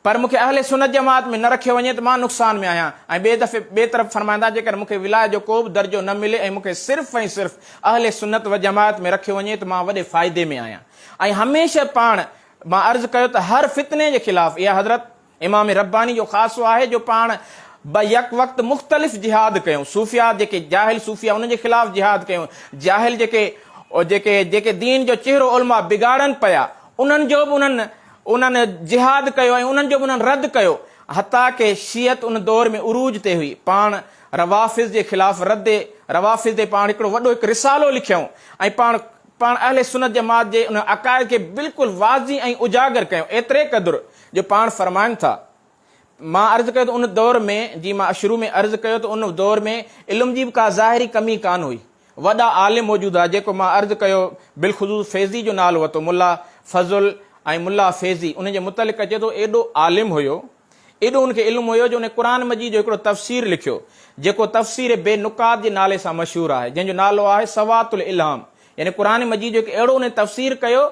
پر مون کي اهل سنت جماعت ۾ نه رکيو وڃي ته مان نقصان ۾ آهيان ۽ ٻئي دفعي ٻئي طرف فرمائندا جيڪڏهن مون کي ولايت جو ڪو به درجو نه ملي ۽ مون کي صرف ۽ صرف اهل سنت و جماعت ۾ رکيو وڃي ته مان وڏي فائدي ۾ آهيان ۽ هميشه پاڻ مان عرض ڪيو ته هر فتني جي خلاف اي حضرت امام رباني جو خاصو آهي جو پاڻ به يڪ وقت مختلف جهاد ڪيون صوفيا جيڪي جاهل صوفيا انهن جي خلاف جهاد ڪيون جاهل جيڪي جيڪي جيڪي دين جو چهرو علماء بگاڙن پيا انهن جو به انهن انهن جهاد ڪيو ۽ انهن جو به انهن رد ڪيو حتيٰ ڪه شيعت ان دور ۾ عروج تي هئي پاڻ روافض جي خلاف رد روافض تي پاڻ هڪڙو وڏو هڪ رسالو لکيون ۽ پاڻ پاڻ اهل سنت جماعت جي انهن عقائد کي بلڪل واضح ۽ اجاگر ڪيون ايتري قدر جو پاڻ فرمائن ٿا، مان عرض ڪيو ته ان دور ۾ جيئن مان شروع ۾ عرض ڪيو ته ان دور ۾ علم جي به ڪا ظاهري ڪمي ڪانه هئي، وڏا عالم موجود هئا جيڪو مان عرض ڪيو بالخصوص فيضي جو نالو ورتو ملا فضل ۽ ملا فيضي انهن جي متعلق اچي ٿو ايڏو عالم هيو ايڏو ان کي علم هيو جو انهن قرآن مجيد جو هڪڙو تفسير لکيو جيڪو تفسير بي نقاط جي نالي سان مشهور آهي جنهن جو نالو آهي سوات الالهام يعني قرآن مجيد جو هڪ اهڙو انهن تفسير ڪيو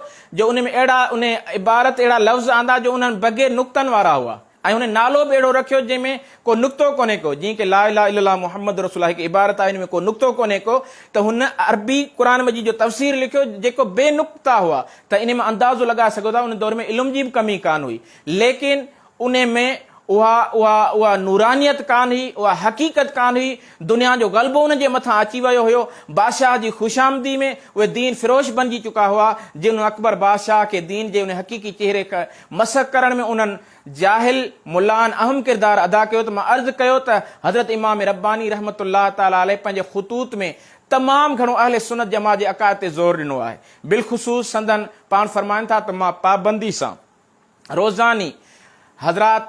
جو ان ۾ اهڙا ان عبارت اهڙا لفظ آندا جو انهن بگهي نقطن وارا هئا ۽ انهن نالو به اهڙو رکيو جنهن ۾ ڪو نقطو ڪونهي ڪو جيئن ڪي لا اله الا الله محمد رسول الله هڪ عبارت آهي ان ۾ ڪو نقطو ڪونهي ڪو ته هن عربي قرآن مجيد جو تفسير لکيو جيڪو بي نقطه هئا ته ان مان اندازو لڳائي سگهو ٿا ان دور ۾ علم جي به ڪمي ڪانه هئي ليڪن انهي ۾ اها اها اها نورانيت ڪانه هئي، اها حقيقت ڪانه هئي، دنيا جو غلبو ان جي مٿان اچي ويو هيو، بادشاهه جي خوشامدي ۾ اهي دين فروش بنجي چڪا هئا، جنهن اڪبر بادشاهه کي دين جي انهي حقيقي چهري کي مسخ ڪرڻ ۾ انهن جاهل ملائن اهم ڪردار ادا ڪيو ته مان عرض ڪيو ته حضرت امام رباني رحمة الله تعالٰي عليه پنهنجي خطوط ۾ تمام گهڻو اهل سنت جماعت جي عقائد تي زور ڏنو آهي، بالخصوص سندن پاڻ فرمائن ٿا ته مان پابندي سان روزاني حضرات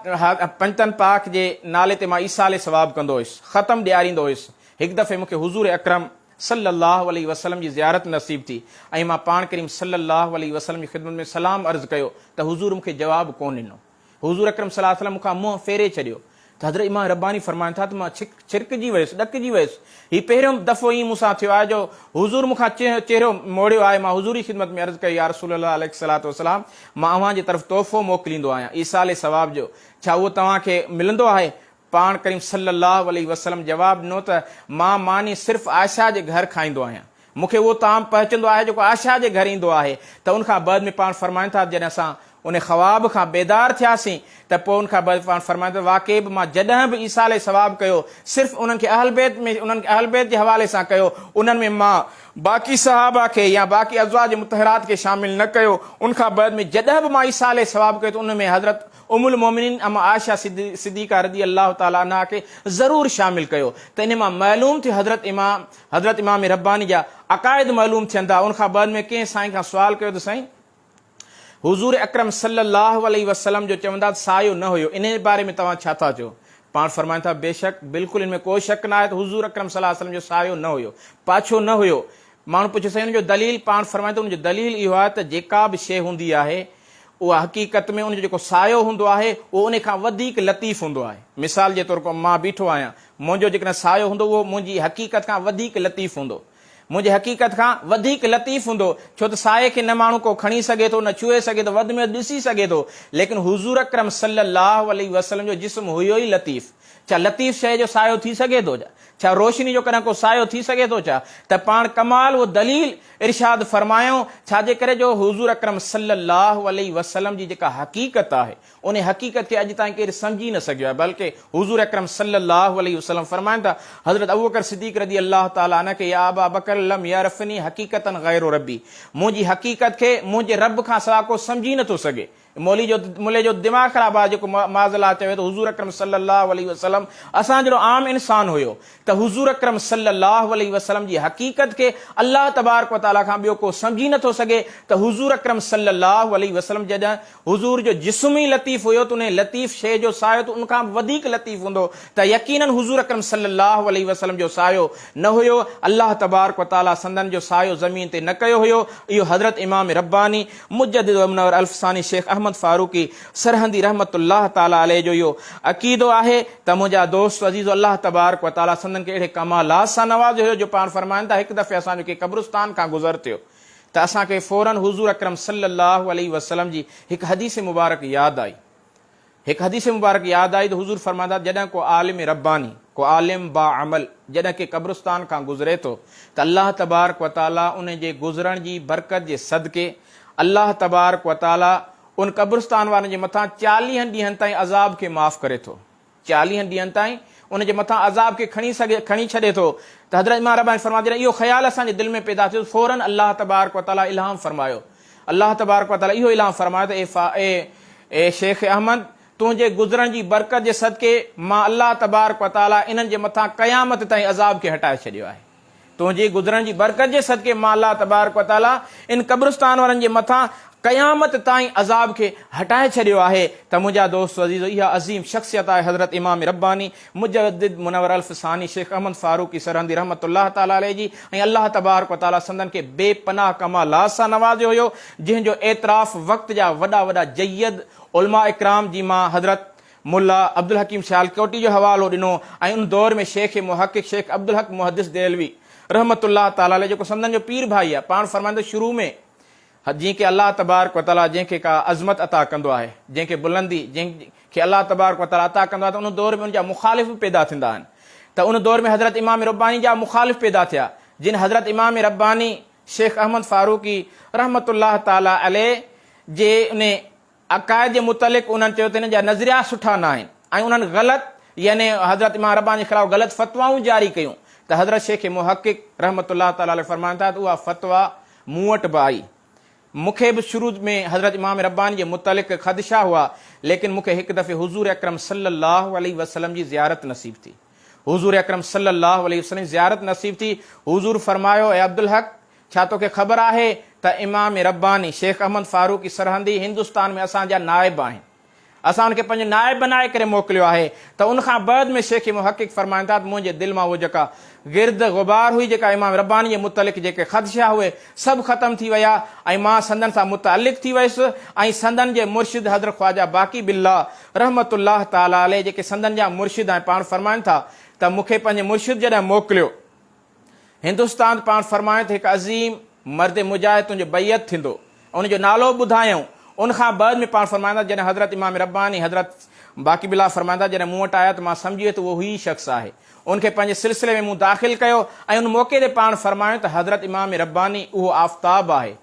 پنجتن پاڪ جي نالي تي مان ايصال ثواب ڪندو هيس، ختم ڏياريندو هيس، هڪ دفعي مونکي حضور اڪرم صلّي الله عليه وسلّم جي زيارت نصيب ٿي ۽ مان پاڻ ڪريم صلّي الله عليه وسلّم جي خدمت ۾ سلام عرض ڪيو ته حضور مونکي جواب ڪونه ڏنو، حضور اڪرم صلّي الله عليه وسلّم مونکان منهن ڦيري ڇڏيو، ته حضرت امام رباني فرمائن ٿا ته مان ڇرڪجي ويس، ڏڪجي ويس، هي پهريون دفعو ائين مون سان ٿيو آهي جو حضور مون کان چهرو موڙيو آهي، مان حضور جي خدمت ۾ عرض ڪئي يا رسول الله عليه الصلوة والسلام مان اوهان جي طرف تحفو موڪليندو آهيان ايصال ثواب جو، ڇا اهو توهان کي ملندو آهي؟ پاڻ ڪريم صلّي اللّٰه عليه وسلّم جواب ڏنو ته مان ماني صرف عائشه جي گهر کائيندو آهيان، مون کي اهو طعام پهچندو آهي جيڪو عائشه جي گهر ايندو آهي ته ان کان بعد ۾ پاڻ فرمائن ٿا ته جڏهن اسان ان خواب کان بيدار ٿياسين ته پوء ان کان بعد پاڻ فرمائن ٿا واقعي به مان جڏهن به ايصال ثواب ڪيو صرف انهن کي اهل بيت ۾ انهن کي اهل بيت جي حوالي سان ڪيو انهن ۾ مان باقي صحابه کي يا باقي ازواج مطهرات کي شامل نه ڪيو ان کان بعد ۾ جڏهن به مان ايصال ثواب ڪيو ته ان ۾ حضرت ام المومنين اما عائشه صديقه رضي الله تعالٰي عنها کي ضرور شامل ڪيو ته ان مان معلوم ٿيو حضرت امام حضرت امام رباني جا عقائد معلوم ٿين ٿا ان کان بعد ۾ ڪنهن سائين کان سوال ڪيو ته سائين حضور اڪرم صلي الله عليه وسلم جو چوندا ته سايو نه هيو انهي باري ۾ توهان ڇا ٿا چئو پاڻ فرمائن ٿا بيشڪ بلڪل ان ۾ ڪو شڪ نه آهي ته حضور اڪرم صلي الله عليه وسلم جو سايو نه هيو پاڇو نه هيو ماڻهو پڇيو سائين ان جو دليل پاڻ فرمائن ٿا ان جو دليل اهو آهي ته جيڪا به شيء هوندي آهي اها حقيقت ۾ ان جو جيڪو سايو هوندو آهي، اهو انهي کان وڌيڪ لطيف هوندو آهي. مثال جي طور ڪو مان بيٺو آهيان، منهنجو جيڪڏهن سايو هوندو، اهو منهنجي حقيقت کان وڌيڪ لطيف هوندو. منهنجي حقيقت کان وڌيڪ لطيف هوندو، ڇو ته سايي کي نه ماڻهو ڪو کڻي سگهي ٿو، نه ڇهي سگهي ٿو، وڌ ۾ وڌ ڏسي سگهي ٿو. ليڪن حضور اڪرم صلي الله عليه وسلم جو جسم هيو ئي لطيف. ڇا لطيف شيء جو سايو ٿي سگهي ٿو ڇا؟ ڇا روشني جو ڪڏهن ڪو سايو ٿي سگهي ٿو ڇا؟ ته پاڻ ڪمال و دليل ارشاد فرمايائون، ڇا جي ڪري جو حضور اڪرم صلّي اللّٰه عليه وسلّم جي جيڪا حقيقت آهي، انهي حقيقت کي اڄ تائين ڪير سمجهي نه سگهيو آهي، بلڪه حضور اڪرم صلّي اللّٰه عليه وسلّم فرمائن ٿا، حضرت ابوبڪر صديق رضي الله تعالٰي عنه کي يا ابا بکر لم يعرفني حقيقة غير ربّي، منهنجي حقيقت کي منهنجي ربّ کان سواء ڪو سمجهي نه ٿو سگهي. مولي جو ملي جو دماغ خراب آ جيڪو معاذالله چوي ته حضور اڪرم صلي الله عليه وسلم اسان جهڙو عام انسان هيو ته حضور اڪرم صلي الله عليه وسلم جي حقيقت کي الله تبارڪ وتعالي کان ٻيو ڪو سمجهي نه ٿو سگهي ته حضور اڪرم صلي الله عليه وسلم جڏهن حضور جو جسم ئي لطيف هيو ته انهي لطيف شيء جو سايو ته ان کان به وڌيڪ لطيف هوندو ته يقينن حضور اڪرم صلي الله عليه وسلم جو سايو نه هيو الله تبارڪ وتعالي سندن جو سايو زمين تي نه ڪيو هيو اهو حضرت امام رباني مجدد و منور الف ثاني شيخ احمد فاروقي سرهندي رحمة الله تعالٰي عليه جو اهو عقيدو آهي ته منهنجا دوست عزيزو الله تبارڪ و تعالٰي سندن کي اهڙي ڪمالات سان نوازيو هيو جو پاڻ فرمائن ٿا هڪ دفعي اسان جو ڪنهن قبرستان کان گذر ٿيو ته اسان کي فوراً حضور اڪرم صلّي اللّٰه عليه وسلّم جي هڪ حديث مبارڪ ياد آئي هڪ حديث مبارڪ ياد آئي ته حضور فرماندا جڏهن ڪو عالم رباني، ڪو عالم باعمل جڏهن ڪي قبرستان کان گذري ٿو ته الله تبارڪ وتعاليٰ ان جي گذرڻ جي برڪت جي صدقي الله تبارڪ وتعاليٰ ان قبرستان وارن جي مٿان چاليهن ڏينهن تائين عذاب کي معاف ڪري ٿو چاليهن ڏينهن تائين ان جي مٿان عذاب کي کڻي سگهي کڻي ڇڏي ٿو ته حضرت امام رباني فرماندا جڏهن اهو خيال اسان جي دل ۾ پيدا ٿيو ته فوراً الله تبارڪ وتعاليٰ الهام فرمايو الله تبارڪ و تعاليٰ اهو اعلان فرمايو ته اي فا اي اي شيخ احمد! تنهنجي گذرڻ جي برڪت جي صدقي مان الله تبارڪ و تعاليٰ انهن جي مٿان قيامت تائين عذاب کي هٽائي ڇڏيو آهي. تنهنجي گذرڻ جي برڪت جي صدقي مان الله تبارڪ و تعاليٰ ان قبرستان وارن جي مٿان قيامت تائين عذاب کي هٽائي ڇڏيو آهي ته منهنجا دوستو عزيزو اها عظيم شخصيت آهي حضرت امام رباني مجدد منور الف ثاني شيخ احمد فاروقي سرهندي رحمة الله تعالٰي عليه جي ۽ الله تبارڪ و تعالٰي سندن کي بي پناهه ڪمالات سان نوازيو هيو جنهن جو اعتراف وقت جا وڏا وڏا جيد علماء اڪرام جي مان حضرت ملا عبدالحڪيم سيالڪوٽي جو حوالو ڏنو ۽ ان دور ۾ شيخ محقق شيخ عبدالحق محدث دهلوي رحمة الله تعالٰي عليه جيڪو سندن جو پير ڀائي آهي پاڻ فرمائيندو شروع ۾ هت جنهن کي الله تبارڪ و تعالي جنهن کي ڪا عظمت عطا ڪندو آهي، جنهن کي بلندي جنهن کي الله تبارڪ و تعالي عطا ڪندو آهي ته ان دور ۾ ان جا مخالف به پيدا ٿيندا آهن ته ان دور ۾ حضرت امام رباني جا مخالف پيدا ٿيا جن حضرت امام رباني شيخ احمد فاروقي رحمة الله تعالي عليه جي ان عقائد جي متعلق انهن چيو ته انهن جا نظريات سٺا نه آهن ۽ انهن غلط يعني حضرت امام رباني جي خلاف غلط فتوائون جاري ڪيون ته حضرت شيخ محقق رحمة الله تعالٰي عليه فرمائن ٿا ته اها فتويٰ مون وٽ به آئي مون کي به شروع ۾ حضرت امام رباني جي متعلق خدشا هئا ليڪن مون کي هڪ دفعي حضور اڪرم صلّي الله عليه وسلّم جي زيارت نصيب ٿي حضور اڪرم صلّي الله عليه وسلّم جي زيارت نصيب ٿي حضور فرمايو اي عبدالحق ڇا توکي خبر آهي ته امام رباني، شيخ احمد فاروقي سرهندي هندستان ۾ اسان جا نائب آهن. اسان ان کي پنهنجو نائب بنائي ڪري موڪليو آهي ته ان کان بعد ۾ شيخ محقق فرمائن ٿا ته منهنجي دل مان اهو جيڪا گرد غبار هئي جيڪا امام رباني جي متعلق جيڪي خدشا هئي سڀ ختم ٿي ويا ۽ مان سندن سان متعلق ٿي ويس ۽ سندن جي مرشد حضرت خواجه باقي بالله رحمة الله تعالٰي عليه جيڪي سندن جا مرشد ۽ پاڻ فرمائن ٿا ته مونکي پنهنجي مرشد جڏهن موڪليو هندستان پاڻ فرمائين ته هڪ عظيم مرد مجاهد تنهنجو بيعت ٿيندو ۽ ان جو نالو ٻڌايائون. ان کان بعد ۾ پاڻ فرمائيندا جڏهن حضرت امام رباني حضرت باقي بالله فرمائيندا جڏهن مون وٽ آيا ته مان سمجهي ويس ته اهو هي شخص آهي. ان کي پنهنجي سلسلي ۾ مون داخل ڪيو ۽ ان موقعي تي پاڻ فرمايائون ته حضرت امام رباني اهو آفتاب آهي.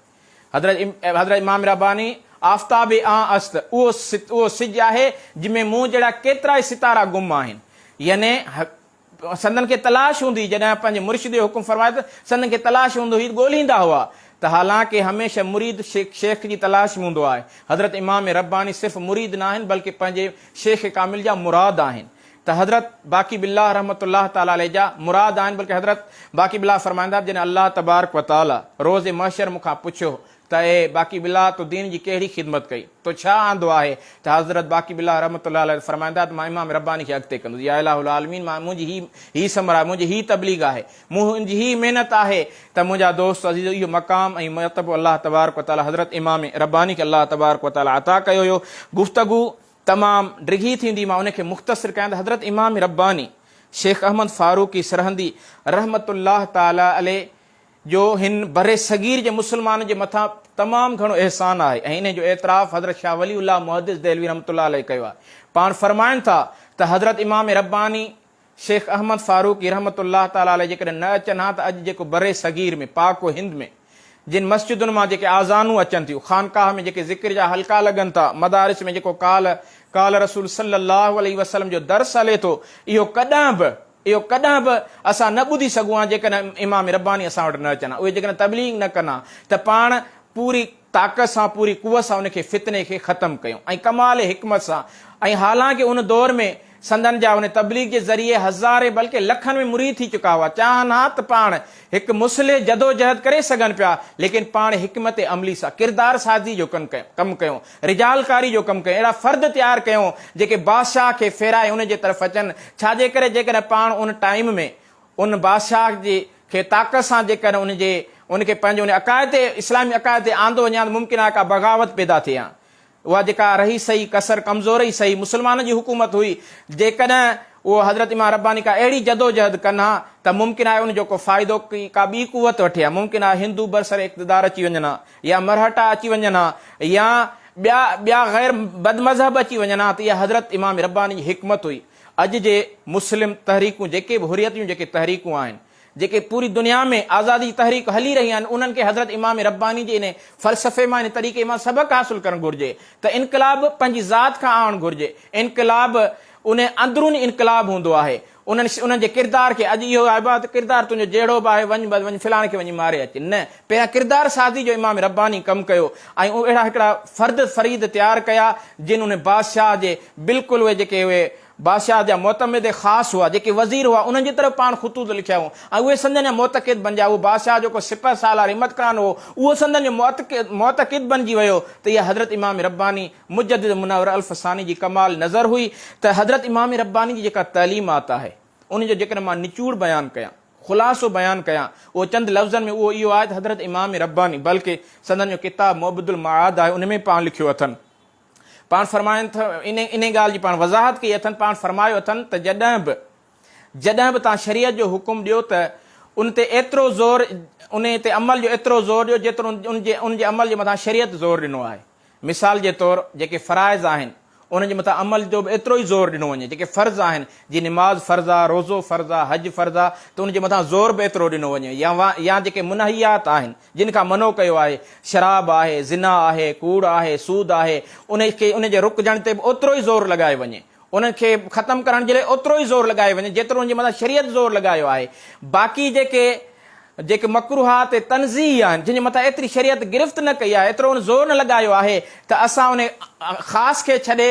حضرت حضرت امام رباني آفتاب آن است اهو اهو سج آهي جنهن ۾ مون جهڙا ڪيترائي ستارا گم آهن. يعني سندن کي تلاش هوندي جڏهن پنهنجي مرشد جو حڪم فرمائي ته سندن کي تلاش هوندو هي ڳولهيندا هئا ته حالانڪه هميشه مريد شيخ جي تلاش ۾ هوندو آهي حضرت امام رباني صرف مريد ناهن بلڪه پنهنجي شيخ ڪامل جا مراد آهن ته حضرت باقي بالله رحمة الله تعالٰي عليه جا مراد آهن بلڪه حضرت باقي بالله فرمائيندا جڏهن الله تبارڪ وتعالٰي روز محشر مون کان پڇيو ته اي باقي بالله! تو دين جي ڪهڙي خدمت ڪئي؟ تو ڇا آندو آهي؟ ته حضرت باقي بالله رحمة الله عليه فرمائن ٿا ته مان امام رباني کي اڳتي ڪندس. يا اله العالمين! مان منهنجي هي هي ثمر آهي، منهنجي هي تبليغ آهي، منهنجي هي محنت آهي ته منهنجا دوست عزيزو اهو مقام ۽ مرتبو الله تبارڪ وتعالي حضرت امام رباني کي الله تبارڪ وتعالي عطا ڪيو هيو. گفتگو تمام ڊگهي ٿيندي مان ان کي مختصر ڪيان ته حضرت امام رباني شيخ احمد فاروقي سرهندي رحمة الله تعالي عليه، جو هن برصغير جي مسلمانن جي مٿان تمام گهڻو احسان آهي ۽ انهي جو اعتراف حضرت شاهه ولي الله محدث دهلوي رحمة الله عليه ڪيو آهي. پاڻ فرمائن ٿا ته حضرت امام رباني شيخ احمد فاروقي رحمة الله تعالٰي عليه جيڪڏهن نه اچن ها ته اڄ جيڪو برصغير ۾ پاڪ و هند ۾ جن مسجدن مان جيڪي آذانون اچن ٿيون، خانقاهه ۾ جيڪي ذڪر جا حلقا لڳن ٿا، مدارس ۾ جيڪو قال قال رسول صلّي اللّٰه عليه وسلّم جو درس هلي ٿو، اهو ڪڏهن به اهو ڪڏهن به اسان نه ٻڌي سگهون ها جيڪڏهن امام رباني اسان وٽ نه اچن ها. اهي جيڪڏهن تبليغ نه ڪن ها ته پاڻ پوري طاقت سان پوري قوت سان ان کي فتني کي ختم ڪيون ۽ ڪمال حڪمت سان ۽ حالانڪه ان دور ۾ سندن جا ان تبليغ جي ذريعي هزارين بلڪه لکن ۾ مريد ٿي چڪا هئا چاهن ها ته پاڻ هڪ مصلح جدوجهد ڪري سگهن پيا ليڪن پاڻ حڪمت عملي سان ڪردار سازي جو ڪم ڪيون رجالڪاري جو ڪم ڪيون، اهڙا فرد تيار ڪيون جيڪي بادشاهه کي ڦيرائي ان جي طرف اچن، ڇا جي ڪري جيڪڏهن پاڻ ان ٽائيم ۾ ان بادشاهه جي کي طاقت سان جيڪڏهن ان جي ان کي پنهنجي ان عقائد تي اسلامي عقائد تي آندو وڃي ها ته ممڪن آهي ڪا بغاوت پيدا ٿئي ها اها جيڪا رهي صحيح ڪسر ڪمزورئي صحيح مسلمانن جي حڪومت هئي جيڪڏهن اهو حضرت امام رباني ڪا اهڙي جدوجهد ڪن ها ته ممڪن آهي ان جو ڪو فائدو ڪا ٻي قوت وٺي ها ممڪن آهي هندو برسر اقتدار اچي وڃن ها يا مرهٽا اچي وڃن ها يا ٻيا ٻيا غير بد مذهب اچي وڃن ها ته اها حضرت امام رباني جي حڪمت هئي. اڄ جي مسلم تحريڪون جيڪي به حريت جون جيڪي تحريڪون آهن، جيڪي پوري دنيا ۾ آزادي جي تحريڪ هلي رهي آهن انهن کي حضرت امام رباني جي انهي فلسفي مان انهي طريقي مان سبق حاصل ڪرڻ گهرجي ته انقلاب پنهنجي ذات کان آڻڻ گهرجي. انقلاب انهي اندروني انقلاب هوندو آهي. انهن انهن جي ڪردار کي اڄ اهو آهي ڀاء ته ڪردار تنهنجو جهڙو به آهي وڃ بس وڃ فلاڻي کي وڃي ماري اچ نه پهريان ڪردار سازي جو امام رباني ڪم ڪيو ۽ اهڙا هڪڙا فرد فريد تيار ڪيا جن انهن بادشاهه جي بلڪل اهي جيڪي اهي بادشاهه جا معتمد خاص هئا جيڪي وزير هئا انهن جي طرف پاڻ خطوط لکيا هئون ۽ اهي سندن جا معتقد بنجيا اهو بادشاهه جو ڪو سپهه سالار همت خان هو اهو سندن جو معتقد بنجي ويو ته اها حضرت امام رباني مجدد منور الف ثاني جي ڪمال نظر هئي ته حضرت امام رباني جي جيڪا تعليمات آهي ان جو جيڪڏهن مان نچوڙ بيان ڪيان، خلاصو بيان ڪيان اهو چند لفظن ۾ اهو اهو آهي ته حضرت امام رباني بلڪ سندن جو ڪتاب معبد المعاد آهي ان ۾ پاڻ لکيو اٿن پاڻ فرمائن ٿا ان ان ڳالهه جي پاڻ وضاحت ڪئي اٿن پاڻ فرمايو اٿن ته جڏهن به جڏهن به توهان شريعت جو حڪم ڏيو ته ان تي ايترو زور ان تي عمل جو ايترو زور ڏيو جيترو ان جي ان جي عمل جي مٿان شريعت زور ڏنو آهي. مثال جي طور جيڪي فرائض آهن انهن جي مٿان عمل جو به ايترو ئي زور ڏنو وڃي، جيڪي فرض آهن جي نماز فرض آ، روزو فرض آ، حج فرض آ ته ان جي مٿان زور به ايترو ڏنو وڃي يا يا جيڪي منهيات آهن جن کان منو ڪيو آهي، شراب آهي، زنا آهي، ڪوڙ آهي، سود آهي، انهن کي انهن جي رڪجڻ تي به اوترو ئي زور لڳايو وڃي. انهن کي ختم ڪرڻ جي لاء اوترو ئي زور لڳايو وڃي جيترو ان جي مٿان شريعت زور لڳايو آهي. باقي جيڪي جيڪي مڪروهات ۽ تنزيهي آهن جن جي مٿان ايتري شريعت گرفت نه ڪئي آهي ايترو ان زور نه لڳايو آهي ته اسان ان خاص کي ڇڏي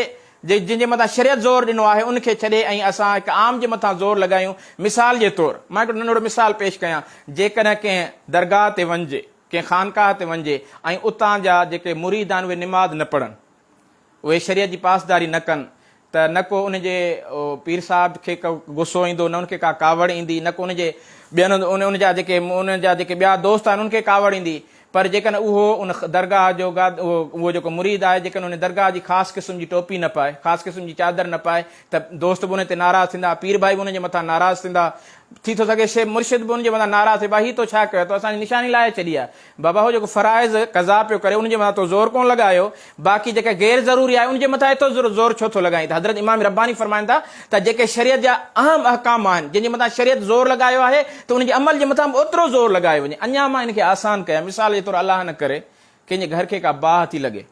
جن جي مٿان شريعت زور ڏنو آهي ان کي ڇڏي ۽ اسان هڪ عام جي مٿان زور لڳايون مثال جي طور مان هڪڙو ننڍڙو مثال پيش ڪيان جيڪڏهن ڪنهن درگاهه تي وڃجي ڪنهن خانقاهه تي وڃجي ۽ اتان جا جيڪي مريد آهن اهي نماز نه پڙهن اهي شريعت جي پاسداري نه ڪن ته نه ڪو ان جي پير صاحب کي ڪو غصو ايندو نه ان کي ڪا ڪاوڙ ايندي نه ڪو ان جي ٻين ان جا جيڪي ان جا جيڪي ٻيا دوست آهن انهن کي ڪاوڙ ايندي پر جيڪڏهن اهو ان درگاهه جو اهو جيڪو مريد آهي جيڪڏهن ان درگاهه جي خاص قسم جي ٽوپي نه پائي خاص قسم جي چادر نه پائي ته دوست به ان تي ناراض ٿيندا پير ڀائي به ان جي مٿان ناراض ٿيندا ٿي ٿو سگهي شيخ مرشد به ان جي مٿان ناراض ٿي ڀائي هي تو ڇا ڪيو اٿو اسان جي نشاني لاهي ڇڏي آهي بابا هو جيڪو فرائض قضا پيو ڪري ان جي مٿان تو زور ڪونه لڳايو باقي جيڪا غير ضروري آهي ان جي مٿان ايترو زور ڇو ٿو لڳائين ته حضرت امام رباني فرمائن ٿا ته جيڪي شريعت جا اهم احڪام آهن جن جي مٿان شريعت زور لڳايو آهي ته ان جي عمل جي مٿان به اوترو زور لڳايو وڃي اڃا مان ان کي آسان ڪيان مثال جي طور الله نه ڪري ڪنهن جي گهر کي ڪا باهه ٿي لڳي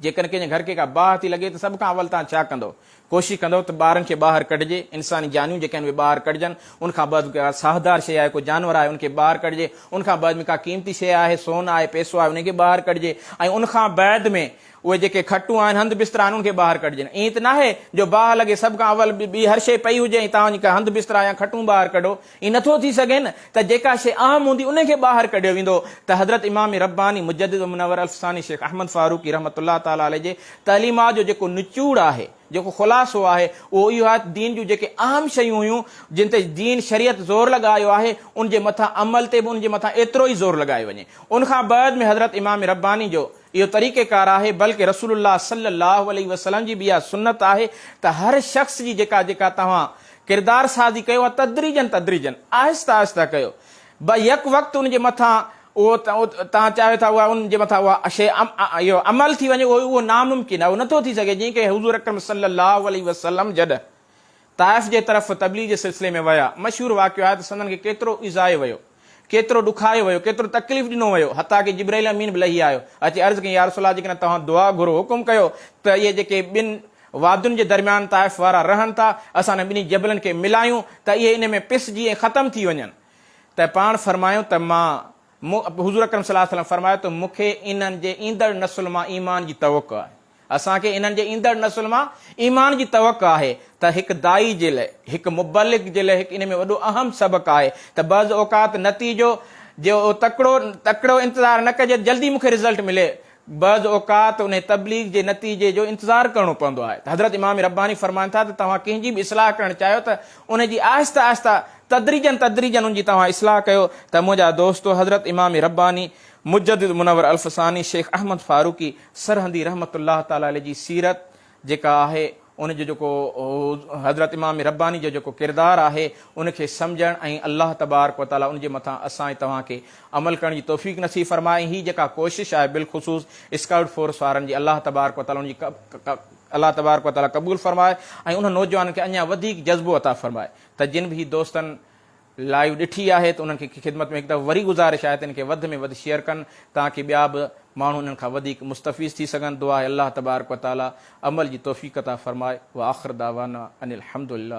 جيڪڏهن ڪنهن جي گهر کي ڪا باهه ٿي لڳي ته سڀ کان اول توهان ڇا ڪندؤ؟ ڪوشش ڪندؤ ته ٻارن کي ٻاهر ڪڍجي، انساني جانيون جيڪي آهن اهي ٻاهر ڪڍجن، ان کان بعد ڪا ساهدار شيء آهي، ڪو جانور آهي ان کي ٻاهر ڪڍجي، ان کان بعد ۾ ڪا قيمتي شيء آهي، سون آهي، پئسو آهي انهي کي ٻاهر ڪڍجي ۽ ان کان بعد ۾ اهي جيڪي کٽون آهن، هنڌ بسترا آهن ان کي ٻاهر ڪڍجن. ائين ته ناهي جو باهه لڳي سڀ کان اول ٻي هر شيء پئي هجي ۽ توهان جيڪا هنڌ بسترا يا کٽون ٻاهر ڪڍو، ائين نٿو ٿي سگهي نه ته جيڪا شيء اهم هوندي انهي کي ٻاهر ڪڍيو ويندو ته حضرت امام رباني مجدد ومنور الف ثاني شيخ احمد فاروقي رحمة الله تعالٰي عليه جي تعليمات جو جيڪو نچوڙ آهي، جيڪو خلاصو آهي اهو اهو آهي ته دين جون جيڪي اهم شيون هيون جن تي دين شريعت زور لڳايو آهي ان جي مٿان عمل تي به ان جي مٿان ايترو ئي زور لڳايو وڃي ان کان بعد ۾ حضرت امام رباني جو اهو طريقه ڪار آهي بلڪ رسول الله صلي الله عليه وسلم جي به اها سنت آهي ته هر شخص جي جيڪا جيڪا توهان ڪردار سازي ڪيو ها تدريجن تدريجن آهسته آهسته ڪيو به يڪ وقت ان جي مٿان اهو توهان چاهيو ٿا اها ان جي مٿان اها شيء اهو عمل ٿي وڃي اهو ناممڪن آهي اهو نٿو ٿي سگهي جيئن ڪي حضور اڪرم صلي الله عليه وسلم جڏهن طائف جي طرف تبليغ جي سلسلي ۾ ويا مشهور واقعو آهي ته سندن کي ڪيترو ايذايو ويو ڪيترو ڏکايو ويو، ڪيترو تڪليف ڏنو ويو، حتيٰ ڪي جبرئيل امين به لهي آيو، اچي عرض ڪيائين، يا رسول الله جيڪڏهن توهان دعا گهرو، حڪم ڪيو ته اهي جيڪي ٻن وادين جي درميان طائف وارا رهن ٿا، اسان انهن ٻنهي جبلن کي ملايون ته اهي انهي ۾ پسجي ۽ ختم ٿي وڃن ته پاڻ فرمايو ته مان مون حضور اڪرم صلي الله عليه وسلم فرمايو ته مون کي انهن جي ايندڙ نسل مان ايمان جي توقع آهي. اسان کي انهن جي ايندڙ نسل مان ايمان جي توقع آهي ته هڪ داعي جي لئه، هڪ مبلغ جي لئه هڪ ان ۾ وڏو اهم سبق آهي ته بعض اوقات نتيجو جو تڪڙو تڪڙو انتظار نه ڪجي ته جلدي مون کي رزلٽ ملي بعض اوقات انهي تبليغ جي نتيجي جو انتظار ڪرڻو پوندو آهي ته حضرت امام رباني فرمائن ٿا ته توهان ڪنهن جي به اصلاح ڪرڻ چاهيو ته ان جي آهسته آهسته تدريجن تدريجن ان جي توهان اصلاح ڪيو ته منهنجا دوستو حضرت امام رباني مجدد منور الف ثاني شيخ احمد فاروقي سرهندي رحمة الله تعالٰي عليه جي سيرت جيڪا آهي ان جو جيڪو حضرت امام رباني جو جيڪو ڪردار آهي ان کي سمجهڻ ۽ الله تبارڪ و تعالٰي ان جي مٿان اسان ۽ توهان کي عمل ڪرڻ جي توفيق نصيب فرمائي ۽ هي جيڪا ڪوشش آهي بالخصوص اسڪائوٽ فورس وارن جي الله تبارڪ و تعالٰي ان جي الله تبارڪ و تعالٰي قبول فرمائي ۽ انهن نوجوانن کي اڃا وڌيڪ جذبو عطا فرمائي ته جن به هي دوستن لائيو ڏٺي آهي ته انهن کي خدمت ۾ هڪ دفعو وري گذارش آهي ته ان کي وڌ ۾ وڌ شيئر ڪن تانڪه ٻيا به ماڻهو انهن کان وڌيڪ مستفيض ٿي سگهن دعا آهي الله تبارڪ وتعالي عمل جي توفيق عطا فرمائي واخر دعوانا ان الحمدلله.